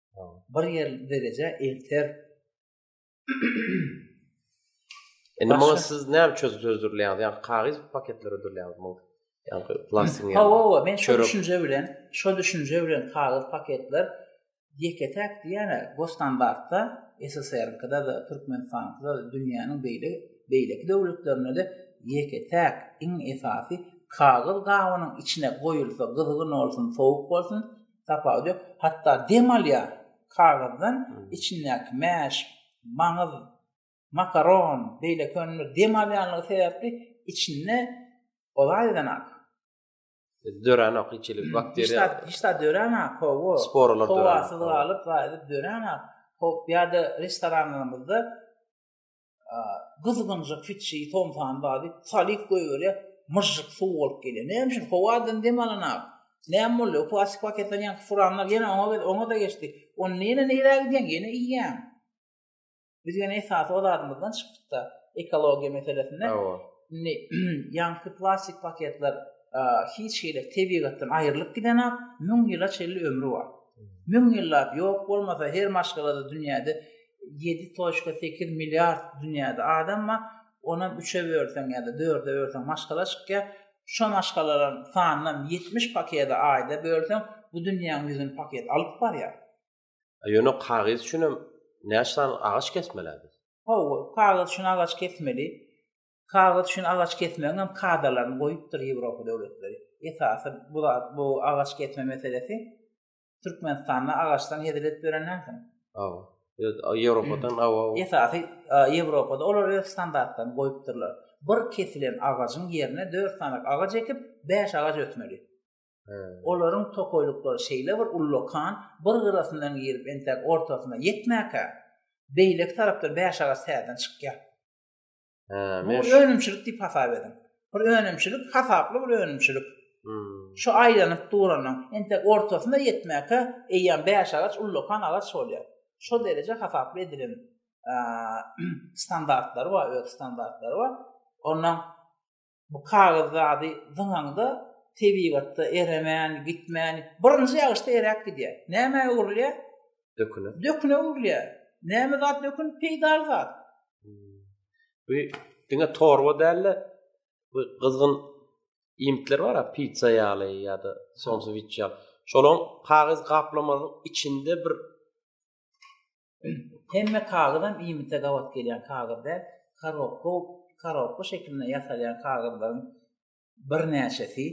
Bir ýer dereje elter. Indi muňa siz näme çözüp çözdürilýär? Ýa kagyz paketleri ödülýär muň. Ýa plastik ýa. Hawa, hawa, men şu düşünje bilen, şu düşünje bilen kagyz paketler ýeke-täk diýene Gostandartda SSR-kda da, Türkmenistanda da, dünýäniň beýle beýleki döwletlerinde de ýeke-täk iň esasy kagyz gabynyň içine goýulsa, gyzgyn bolsun, sowuk bolsun, Tapawudy ýok. Hatda dem alýar kagyzdan içindäki mäş, maňyz, makaron, beýleki önümler dem alýanlygy sebäpli içinde olaýdan ak. Dörän ak içilik bakteriýa. Hiç zat dörän ak hawa. Sporalar dörän. Howasyz galyp, gaýdyp dörän ak. Hop ýa-da restoranlarymyzda gyzgynjyk fitşi tomsan bady salyp goýberýär myžžyk suw bolup gelýär näme üçin howadan dem alan ak näme boldy o plastik paketden ýaňky furanlar ýene oňa gel oňa da geçdi on näne nirä gidýän ýene iýýän biz ýene esasy o zadymyzdan çykdykda ekologiýa meselesinde indi ýaňky plastik paketler hiç hili tebigatdan aýrylyp giden ak müň ýyla çenli ömri bar müň ýyllap ýok bolmasa her maşgalada dünýäde ýedi toçka sekiz milliard dünýäde adam bar, onam üçe bölseň ýa-da dörde bölseň maşgala çykýar. Şo maşgalalaryň sanynam ýetmiş pakede aýda bölseň, bu dünýäň ýüzüni paket alyp barýar. A ýöne kagyz üçinem näçe sany agaç kesmeli-ä biz? Hawa, kagyz üçin agaç kesmeli. Kagyz üçin agaç kesmegiňem kadalaryny goýupdyr Ýewropa döwletleri. Esasy bu zat, bu agaç kesme meselesi Türkmenistanda agaçdan hezil edip beren näsin? Awa. Ýewropadan hmm. awa. Esasy Ýewropada olar öz standartlaryny goýupdyrlar. Bir kesilen agajyň ýerine 4 sany agaç ekip, 5 agaç ötmeli. Olaryň tokoýlyklary şeýle bir ullakan, bir gyrasyndan girip, entek ortasyna ýetmäkä, beýleki tarapdan 5 agaç täzeden çykýar. Bu önümçilik diýip hasap ediň. Bir önümçilik, hasaply bir önümçilik. Hmm. Şu aýlanyp duranyň, entek ortasyna ýetmäke eýýäm 5 agaç ullakan agaç bolýar. Şu dereje hasaply edilen standartlary bar, öz standartlary bar. Ondan Bu kagyz zady zyňaňda tebigatda eremän, gitmän, birinji ýagyşda eräp gidýär. Nämä öwrülýär? Döküne. Döküne öwrülýär. Näme zat dökün? Peýdaly zat. Hmm. Bu diňe torba däl-de, bu gyzgyn iýmitler bar-a, pizza ýaly ýa-da sonsowiç ýaly. Şolaň kagyz gaplamagyň içinde bir Hemme kagyzam iýmite gabat gelýän kagyz däl. Korobka, korobka şekilinde ýasalýan kagyzlaryň birnäçesi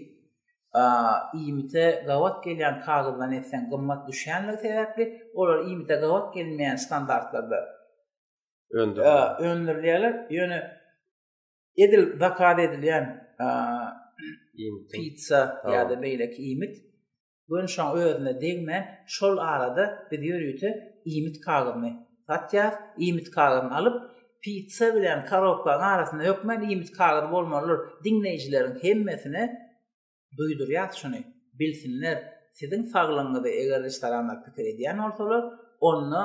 iýmite gabat gelýän kagyzdan etseň gymmat düşýänligi sebäpli, olar iýmite gabat gelmeýän standartlarda öndürilýärler. Ýöne edil zakaz edilýän pitsa ýa-da beýleki iýmit Gön şoň özüne degmän, şol arada biz ýörite iýmit kagyzyny satýarys. Iýmit kagyzyny alyp, pitsa bilen korobkanyň arasyna hökmän iýmit kagyzy bolmalydyr. Diňleýjileriň hemmesine duýdurýarys şuny, bilsinler, siziň saglygyňyzy eger restoranlar pikir edýän bolsalar, onda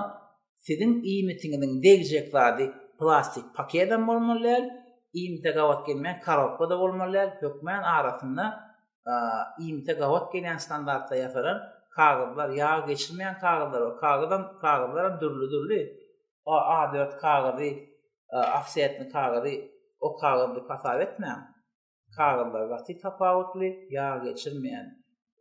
siziň iýmitiňiziň degjek zady plastik paketem bolmaly däl, iýmite gabat gelmeýän korobka-da bolmaly däl, hökmän arasynda iýmite gabat gelýän standartda ýasalan kagyzlar, ýag geçirmeýän kagyzlar we kagyzam kagyzlaram dürli-dürli. A4 kagyzy, ofsetni kagyzy, o kagyzy hasap etmäň. Kagyzlar gaty tapawutly, ýag geçirmeýän,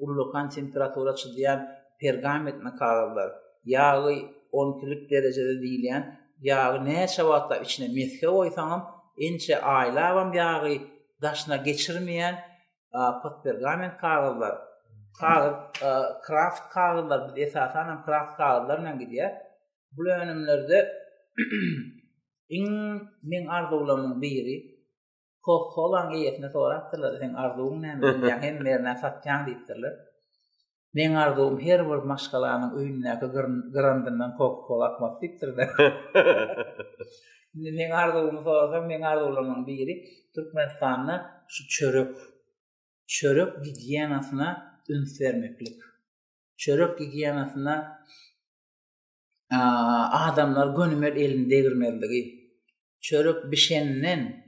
ullakan temperatura çydýan pergamentni kagyzlar, ýagy on ikilik derejede diýilýän ýagy näçe wagtlap içine mesge goýsaňam, ençe aýlabam ýagy daşyna geçirmeýän postpergament kagyzlar, kagyz kraft kagyzlar, biz esasan hem kraft kagyzlar bilen gidýär. Bu önümlerde iň men arzuwlamyň biri Coca-Cola-nyň eýesine sorapdyrlar, sen arzuwyň näme? Ýa hem merne satýaň diýipdirler. Meň arzuwym her bir maşgalanyň öýündäki gyrandyndan koka-kola akmasy diýipdir-de. Indi meň arzuwymy sorasaň, meň arzuwlarymyň biri Türkmenistanda şu çörek, çörek gigiýenasyna üns bermeklik. Çörek gigiýenasyna adamlar gönümel elini degirmezligi, çörek bişenden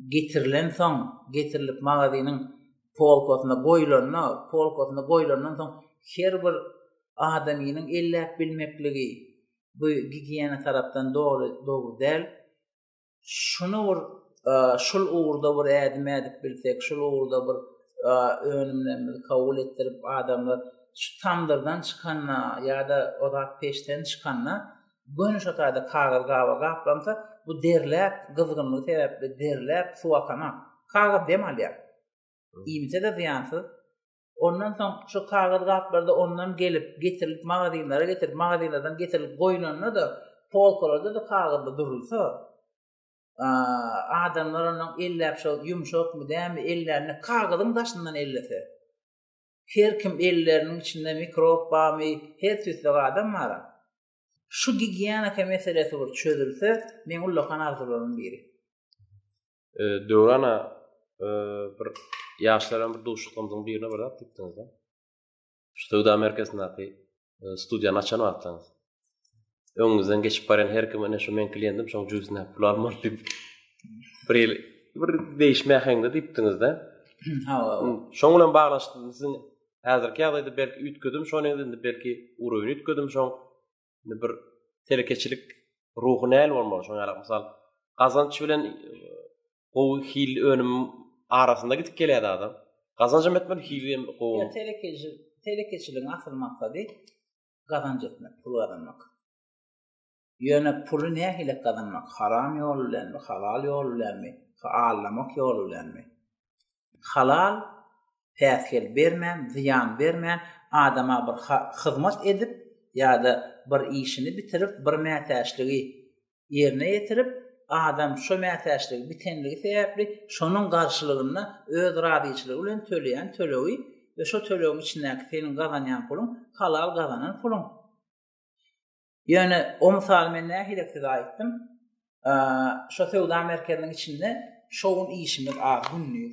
getirilen soň, getirilip magazynyň polkasyna goýulanda, polkasyna goýulandan soň her bir adamynyň elläp bilmekligi, bu gigiýena tarapdan dogry dogry däl. şuny bir e, şul ugurda bir ädim ädip bilsek, şul ugurda bir e, önümlerimizi kabul etdirip adamlar şu tamdyrdan çykanda ýa-da ozat peşden çykanda göni şu taýda kagyz gaba gaplansa, bu derläp, gyzgynlygy sebäpli derläp, suw akana, kagyz dem alýar. Iýmite-de zyýansyz, Ondan soň şu kagyz gaplarda ondan gelip, getirilip magazinlere getirip, magazinlerden getirilip goýlanda-da, polkalarda-da kagyzda durulsa, adamlar onuň elläp şol ýumşakmy, dämi ellände kagyzyň daşyndan ellese. Her kim elleriniň içinde mikrob barmy, her tüýsek adam bar. Şu gigiýenika meselesi bir çözülse, meň ullakan arzuwlarymyň biri. Döwrana bir ýaşlaryň bir duşuşyklarymyzyň birine bir zat diýipdiňiz. Şu söwda merkezindäki studiýany açan wagtyňyz. Öňüňizden geçip barýan her kim ene şu men klientim, şoň jüzüne pul almaly diýip. Bir ýyl bir değişme heňde diýipdiňizde. Ha. Şoň bilen baglaşdyk. Siziň häzirki ýagdaýda belki üýtgedim, şoň indi belki uruny üýtgedim, şoň Indi bir telekeçilik ruhy näl bolmaly? Şoňa ýarak mysal, gazanç bilen gowy hil önüm arasynda gidip gelýär adam. Gazanç hem etmeli, hil hem gowy. Ya telekeçi, telekeçiligiň asyl maksady gazanç etmek, pul gazanmak. Ýöne puly nähili gazanmak? Haram ýol bilenmi, halal ýol bilenmi, alamak ýol bilenmi? Halal, päsgel bermän, zyýan bermän, adama bir hyzmat edip ýa-da bir işini bitirip, bir mätäçligi ýerine ýetirip, adam şo mätäçligi bitenligi sebäpli şonuň garşylygynda öz razyçylygy bilen töleýän tölegi we şo tölegiň içindäki seniň gazanýan puluň halal gazanan puluň. Ýöne o mysaly men nähilek size aýtdym. Şo söwda merkeziniň içinde şo gün işimiz az günli.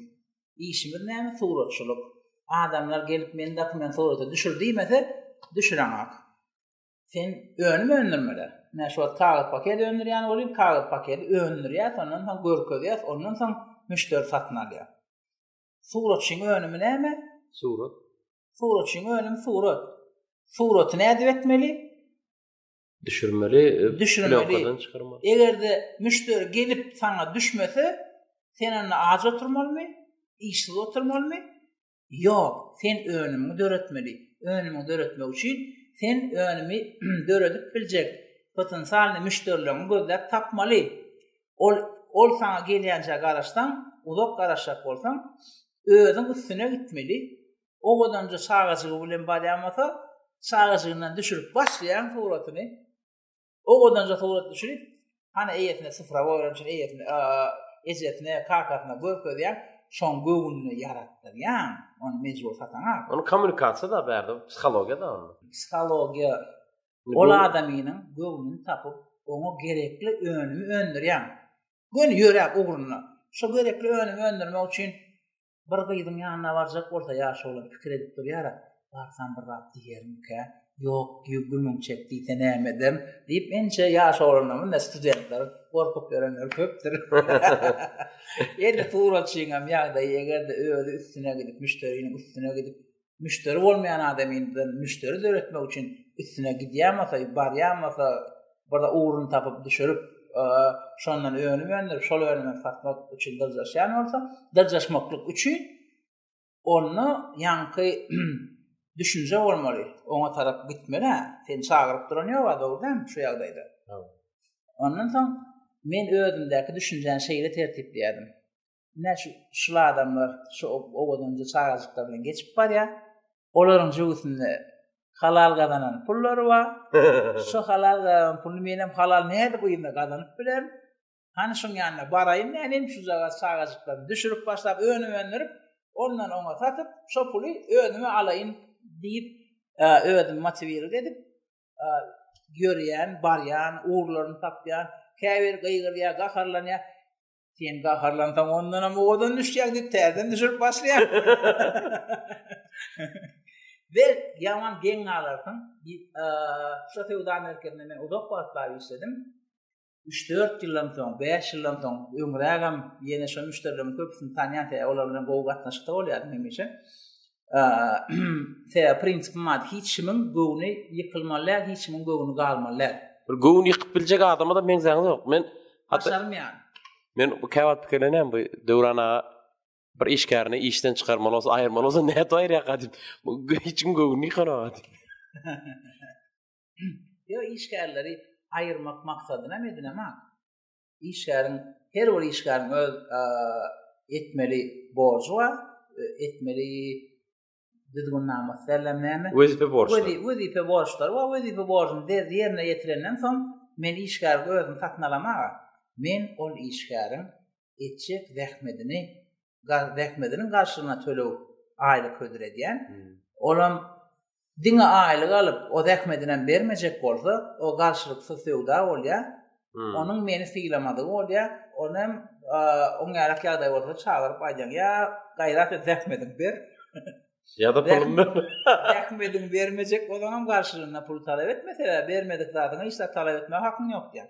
Işimiz näme suratçylyk. Adamlar gelip meni dokument surata düşür diýmese, düşüreňok. Sen önüm öndürmeli. Men şu wagt kagyz paket öndürýän bolýan, kagyz paketi öndürýär, ondan soň görkezýär, ondan soň müşderi satyn alýar. Suratçyň önümi näme? Surat. Suratçyň önümi surat. Suraty nädip etmeli? Düşürmeli, e, düşürmeli. Çykarmaly. Eger-de müşderi gelip sana düşmese, sen onda aç oturmalymy? Işsiz oturmalymy? Ýok, sen önümi döretmeli. Önümi döretmek üçin sen önümi döredip biljek potensialny müşderileriňi gözläp tapmaly. Ol ol saňa gelýänçä garaşsaň, uzak garaşjak bolsaň, özüň üstüne gitmeli. Owadanja çagajygy bilen barýamasa, çagajygyndan düşürip başlaýaň suratyny. Owadanja surat düşürip, hany eýesine syfra goýan üçin eýesine, ejesine, kakasyna görkezýäň, şoň göwnüne ýaratdyrýaň, ony mejbur sataňa. Ony kommunikasiýa da bärde, psihologiýa da ony. Psihologiýa Ol adamynyň göwnüni tapyp, oňa gerekli önümi öndürýän. Göni ýöräp ugruna. Şo gerekli önümi öndürmek üçin bir gyzyň ýanyna barjak bolsa ýaşy oglan pikir edip durýar-a, barsam bir zat diýermikä, ýok diýu gümüň çek diýse näme ederin diýip ençe ýaş oglanlar munda studentler gorkup ýörenler köpdür. Indi suratçynyňam ýagdaýy eger-de özi üstüne gidip, müşderiniň üstüne gidip müşderi bolmaýan adam indi müşderi döretmek üçin üstüne gidýärmese, barýarmese, bir ugrun tapyp düşürip, e, şondan önüm öndürip, şol önümi satmak üçin dyrjaşýan bolsa, dyrjaşmaklyk üçin onda ýaňky düşünje bolmaly, oňa tarap gitmeli, sen çagyryp duran ýok, dogry däl, şu ýagdaýda. Ondan soň men özümdäki düşünjäni şeýle tertipleýärdim. Ine şu şul adamlar şu owadanja çagajyklar bilen geçip barýar. Olaryň jöwüsinde halal gazanan pullary bar. şu halal gazanan puly men hem halal näde bu ýerde gazanyp bilerin. Hany şuň ýanyna baraýyn nänem şu jaga çagajyklary düşürip başlap önüm öndürip, ondan oňa satyp, şu puly özüme alaýyn diýip, özüm motiwirlik edip ýörýän, barýan, ugurlaryny tapýan, käbir gygyryýar, gaharlanýar. Sen gaharlansaň ondan hem owadan düşýär diýip täzeden düşürip başlaýar. Ve yaman geň alarsyň. Şu sevda merkezinde men uzak wagt bar işledim. 3-4 ýyldan soň, 5 ýyldan soň öňrägem ýene şu müşderileriň köpüsini tanýan sebäbi olar bilen gowy gatnaşykda bolýardym hemişe. Sebäbi prinsipim bar, hiç kimiň göwni ýykylmaly däl, hiç kimiň göwni galmaly däl. Bir göwni ýykyp biljek adama da meňzäňiz ýok. Men başarmaýan. Men bu käwagt pikirlenýän bu Döwran aga bir işgärini işden çykarmaly bolsa, aýyrmaly bolsa näme aýyrýar gadyp. Bu hiç kim göwni ýykanok. Yo işgärleri aýyrmak maksadyna medine mak. işgäriň her bir işgäriň öz etmeli borjy bar, etmeli düzgünnama derler näme? Wezipe borçlary. Wezipe borçlary we wezipe borcuny ýerine ýetirenden soň men işgäri özüm satyn alamaga, men ol işgäriň etjek zähmetini zähmediniň garşylygyna töleg aýlyk hödür edýän. Olam diňe aýlyk alyp, o zähmedini hem bermejek bolsa, o garşylyksyz söwda bolýar. Onuň meni sylamadygy bolýar. Ony hem oň ýarak ýagdaý bolsa çagyryp aýdýan, ýa gaýrat et zähmedin ber. Ýa-da puluny ber. Zähmedin bermejek bolsaňam garşylygyna pul talap etme, sebäbi bermedik zadyňy hiç zat talap etmäge hakyň ýok diýýär.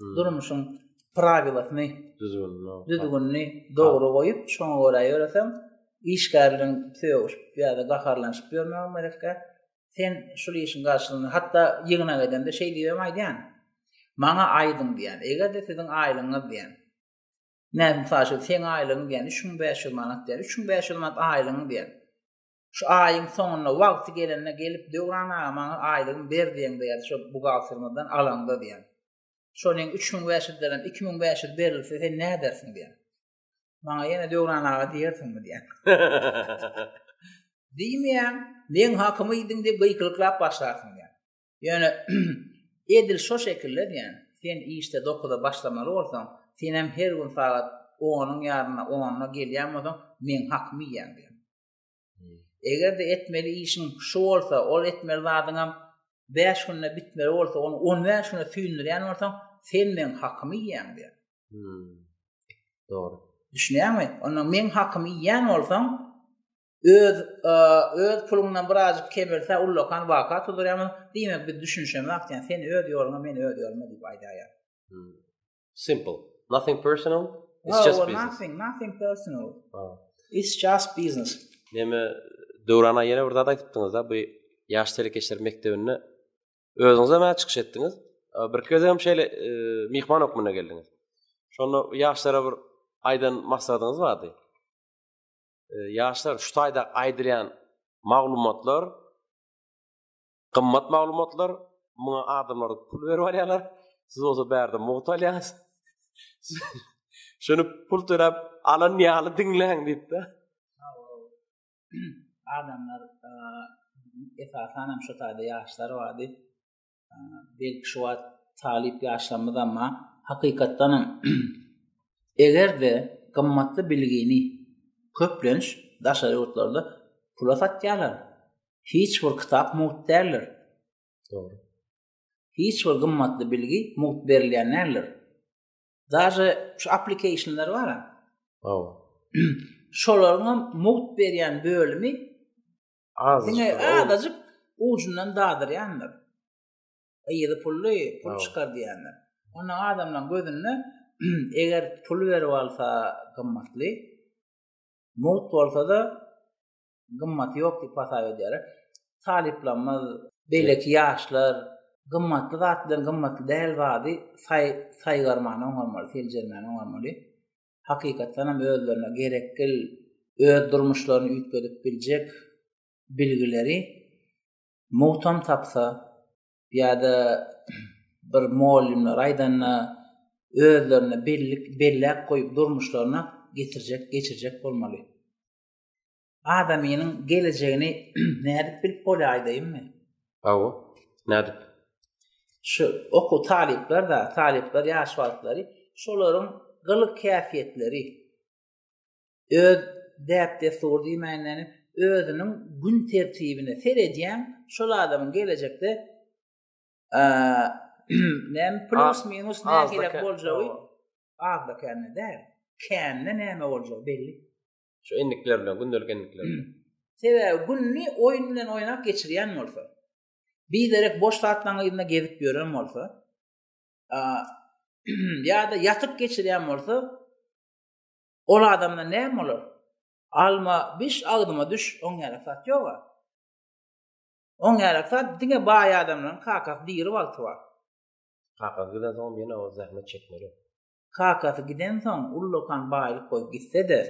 hmm. durmuşyň prawilasyny, düzgünini dogry goýup, şoňa görä ýöreseň, işgärligiň söýüşip ýa-da gaharlanyşyp ýörmäge merekkä, sen şu işiň garşylygyny, hatda ýygna gedende şeý diýem aýdýan, maňa aýdyň diýen, eger-de siziň aýlygyňyz diýen, näme saşy, sen aýlygyň diýen, 3500 manat diýen, 3500 manat aýlygyň diýen, Şu aýyň soňunda wagty gelende gelip Döwran aga maňa aýlygymy ber diýeň diýýärdi şo buhgaltermizden alaňda diýýär. Şonuň üç müň bäş ýüzlerem iki müň bäş ýüz berilse sen nädersiň diýýär. Maňa ýene Döwran aga diýersiňmi diýýär. Diýmeýän, meň hakymy iýdiň diýip gykylyklap başlarsyň diýýär. Ýöne edil şo şekilde diýýär. Sen işde dokuza başlamaly bolsaň, senem her gün sagat onyň ýarynda, onda gelýän bolsaň, meň hakymy iýýäň diýýär. Eger-de etmeli işiň şu bolsa, ol etmeli zadyňam 5 günde bitmeli bolsa, ony 15 güne süýndürýän bolsaň, sen meň hakymy iýýäň diýär. Hmm. Dogry. Düşünýäňmi? Onda meň hakymy iýýän bolsaň, öz e, öz puluňdan birazjyk kemelse, ullakan waka tudurýarmy? Diýmek, biz düşünişemok diýen, sen öz ýoluna, men öz ýoluma diýip aýdaýar. Hmm. Simple. Nothing personal. It's no, just well, business. Nothing, nothing personal. Oh. It's just business. Neme Döwrana ýene bir zat aýdypdyňyz da, bu ýaş telekeçiler mekdebinde özüňiz hem çykyş etdiňiz. Bir köz hem şeýle e, myhman hökmünde geldiňiz. Şonda ýaşlara bir aýdan maslahatyňyz bardy. E, ýaşlar şu taýda aýdylýan maglumatlar Gymmat maglumatlar, muňa adamlar pul berip alýarlar. Siz bolsa bärde mugt alýaňyz. Şuny pul töläp alan ýaly diňläň diýipdi. Adamlar esasan hem şu taýda ýaşlar bardy. Belki şu wagt talyp ýaşlarymyz amma hakykatdan hem eger-de gymmatly bilgini köplenç daşary ýurtlarda pula satýarlar. Hiç bir kitap mugt däldir. Dogry. Hiç bir gymmatly bilgi mugt berilýän däldir. Daže şu applikationlar bar. Hawa. Şolaryň hem mugt berýän bölümi az. Diňe azajyk ujundan dadyrýandyr. Ýygy pully pul çykar diýenler. Onda adamlaryň gözünde eger pul berip alsa gymmatly, mugt bolsa-da gymmaty ýok diýip hasap edýär. Talyplarymyz, beýleki ýaşlar gymmatly zat bilen gymmatly däl zady saý saýgarmany oňarmaly, seljermäni oňarmaly. Hakykatdan hem özlerine gerekgil öz durmuşlaryny üýtgedip biljek bilgileri muhtam tapsa ýa-da bir mugallymlar aýdanda özlerine bellik belläp goýup durmuşlaryna getirjek, geçirjek bolmaly. adamynyň gelejegini nädip bilip bolýaýdaýmy? Hawa, nädip? Şu oku talyplar da, talyplar ýaş wagtlary şolaryň gylyk häsiýetleri öz däp-dessur diýmänden özüniň gün tertibine seredýän şol adamyň gelejekde näme plus minus nähili boljagy azda kände däl. Kände näme boljagy belli. Şu endikler bilen, gündelik endikler bilen. Sebäbi günni oýun bilen oýnap geçirýän bolsa, bir derek boş zatlaryň ýerinde gezip ýören bolsa, a ýa-da ýatyp geçirýän bolsa, ol adamda näme bolar? Alma, biş agdyma düş, oň ýaly zat ýok. Oň ýaly zat diňe baý adamlaryň kakasy diri wagty bar. Kakasy giden soň ýene o zähmet çekmeli. Kakasy gidensoň, ullakan baýlyk goýup gitse-de,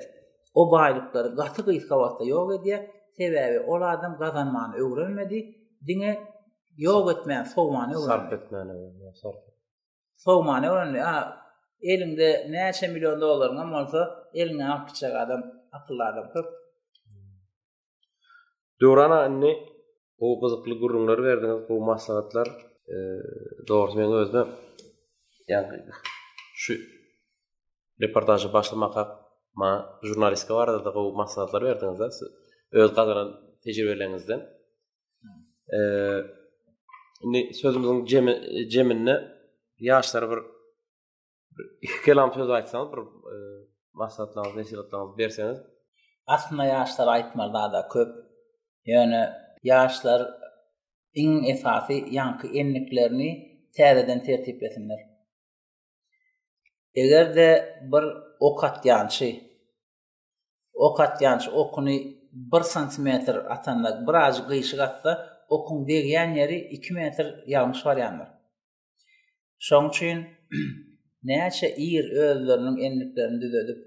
o baýlyklary gaty gysga wagtda ýok edýär, sebäbi ol adam gazanmany öwrenmedi, diňe ýok etmän sowmany öwrendi. Sarp etmäni öwrendi, sarp etmän. Sowmany öwrendi. A, eliňde näçe million dollaryňam bolsa, eliňden alyp gitjek adam, akylly adam köp. Döwrana indi gowy gyzykly gürrüňler berdiňiz, gowy maslahatlar. E, dogry men özüm ýa-da şu reportažy başlamaka ma jurnalistika barada da gowy maslahatlar berdiňiz da öz gazanan tejribeleriňizden. E, indi sözümüziň jeminde ýaşlara bir iki kelam söz aýtsaňyz bir e, maslahatlaryňyzy nesihatlaryňyzy berseňiz aslynda ýaşlar aýtmaly zada köp ýöne ýaşlar iň esasy ýaňky endiklerini täzeden tertiplesinler egerde bir ok atýançy ok atýançy okuny bir santimetr atanda bir ajy gyşyk atsa okuň degýän ýeri iki metr ýalňyş barýandyr Şoň üçin näçe ir özleriniň endiklerini düzedip,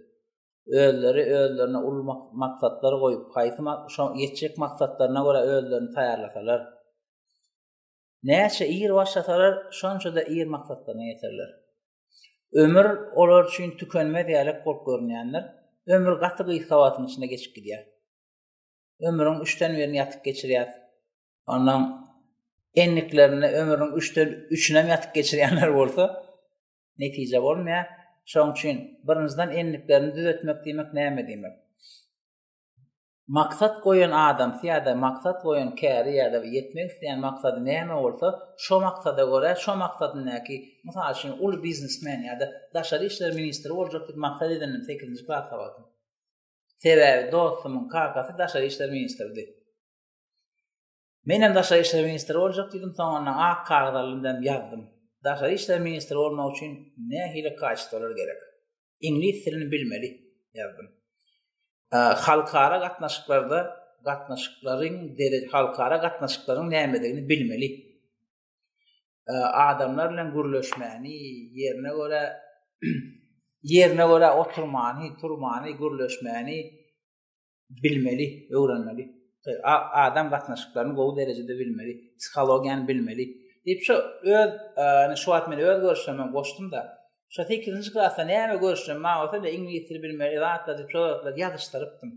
özleri özlerine uly maksatlar goýup, haýsy şo ýetjek maksatlaryna görä özlerini taýýarlasalar, näçe ir başlasalar, şonça-da ir maksatlaryna ýeterler. Ömür olar üçin tükenmez ýalak bolup görünýändir. Ömür gaty gysga wagtyň içinde geçip gidýär. Ömrüň üçden birini ýatyp geçirýär. Ondan endiklerinde ömrüň üçden üçünem ýatyp geçirýänler bolsa, netije bolmaýar. Şoň üçin birinjiden endiklerini düzetmek diýmek näme diýmek? Maksat goýan adam ýa-da maksat goýan käri ýa-da ýetmek isleýän maksady näme bolsa, şo maksada görä, şo maksadyndaky, mysal üçin, uly biznesmen ýa-da daşary işler ministri boljak diýip maksat edindim sekizinji klas sabaty. Sebäbi dostumyň kakasy daşary işler ministridi. Menem daşary işler ministri boljak diýdim, soňundan ak kagyz aldym hem ýazdym. Daşary işler ministri bolmak üçin nähili kaçtolar gerek? Iňlis dilini bilmeli ýazdym. Halkara gatnaşyklarda gatnaşyklaryň dere halkara gatnaşyklaryň nämedigini bilmeli. Adamlar bilen gürleşmäni, ýerine görä ýerine görä oturmany, turmany, gürleşmäni bilmeli, öwrenmeli. Adam gatnaşyklaryny gowy derejede bilmeli, psihologiýany bilmeli. Diýip şu öz, ýani şu wagt men öz görüşlerimi goşdum da, şu 8-nji klasda näme görüşlerim bar bolsa da iňlis dili bilmeli, zatlar diýip şu zatlary ýazyşdyrypdym.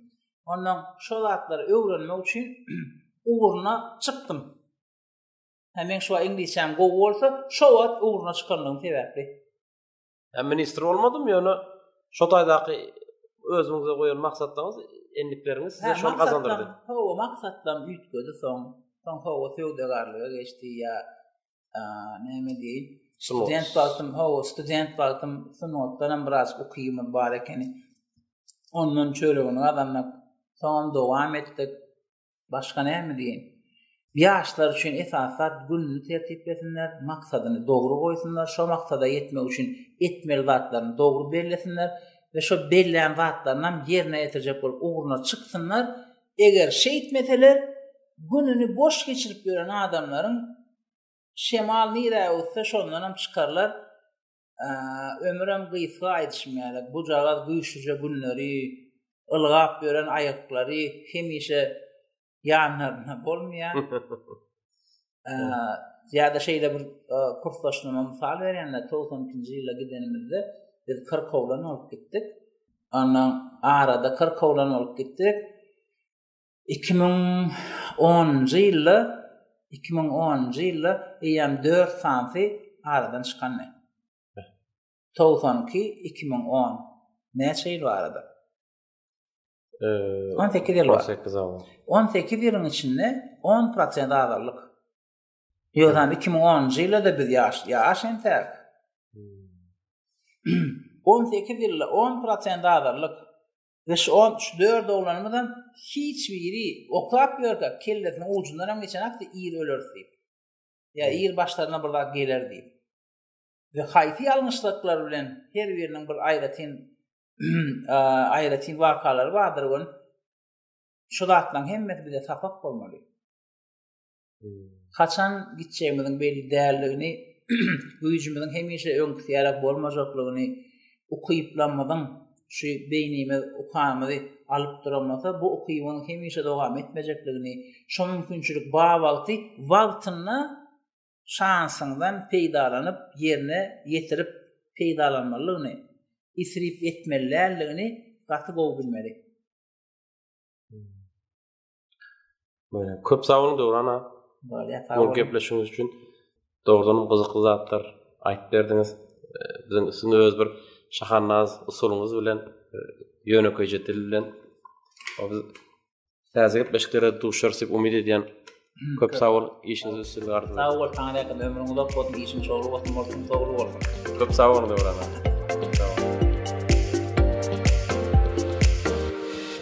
Ondan şu zatlary öwrenmek üçin ugruna çykdym. Hä men şu wagt iňlisçäm gowy bolsa, şu wagt ugruna çykanlygym sebäpli. Yani ministr olmadım yani şu taydaki özüňize goýan maksatlaryňyz, endikleriňiz size şol gazandyrdy. Hawa, maksatlam üýtgedi soň. Soň hawa söwdagarlyga geçdi ýa näme diýin? Student wagtym, hawa, student wagtym sungatdan hem biraz ukymy bar ekeni. Ondan çöregini gazanmak, soňam dowam etdik. Başga näme diýeýin? Ýaşlar üçin esasy zat gününi tertiplesinler, maksadyny dogry goýsunlar, şo maksada ýetmek üçin etmeli zatlaryny dogry bellesinler we şo bellän zatlaryny hem ýerine ýetirjek bolup ugruna çyksynlar. Eger şeýtmeseler, gününi boş geçirip ýören adamlaryň şemal nirä öwüsse, şondan hem çykarlar. Ömürem gysga aýdyşym ýaly, bujagaz güýçlüje günleri, ylgap ýören aýaklary hemişe ýanlarynda bolmaýar. Ýa-da şeýle bir kursdaşlaryma mysal berende, 92-nji ýylda gidenimizde biz kyrkowlan bolup gitdik. Ondan arada kyrkowlan bolup gitdik. iki müň onunjy ýylda iki müň onunjy ýylda eýýäm dört sanysy aradan çykandy togsan iki iki müň on näçe ýyl barada on sekiz ýyl on sekiz on sekiz ýylyň içinde on prosent azaldyk ýöne iki müň onunjy ýylda da biz ýaş ýaş entäk hmm. on sekiz ýylda on prosent azaldyk Beş on üç dört oglanymyzam hiç biri oklap ýörkä kellesiniň ujundan hem geçen akdy ir öleris diýip. Ýa ir başlaryna bir zat geler diýip. Ve haýsy ýalňyşlyklar bilen her biriniň bir aýratyn aýratyn wakalary bardyr we şu zatlaryň hemmesi bize sapak bolmaly. haçan gitjegimiziň belli däldigini, güýjümiziň hemişe öňküsi ýaly bolmajaklygyny, ukyplamyzyň şu beýnimiz ukamyzy alyp duramasa, bu ukybyň hemişe dowam etmejekligini, şo mümkinçilik bar wagty wagtynda şansyňdan peýdalanyp, ýerine ýetirip peýdalanmalydygyny, isrip etmeli däldigini gaty gowy bilmeli. Köp sag bolun Döwrana. Bu gepleşigiňiz üçin dogrudan hem gyzykly zatlar aýdyp berdiňiz. Biziň üstünde öz bir şahannaz usulyňyz bilen ýönekeýje dil bilen biz täze gepleşiklere duşarys diýip umyt edýän. Köp sag bol, işiňiz üstün gardy. Sag bol, taňra ýakyn ömrüň uzak bolsun, işiň şowly bolsun, bolsun, dogry bolsun. Köp sag bol, Döwrana.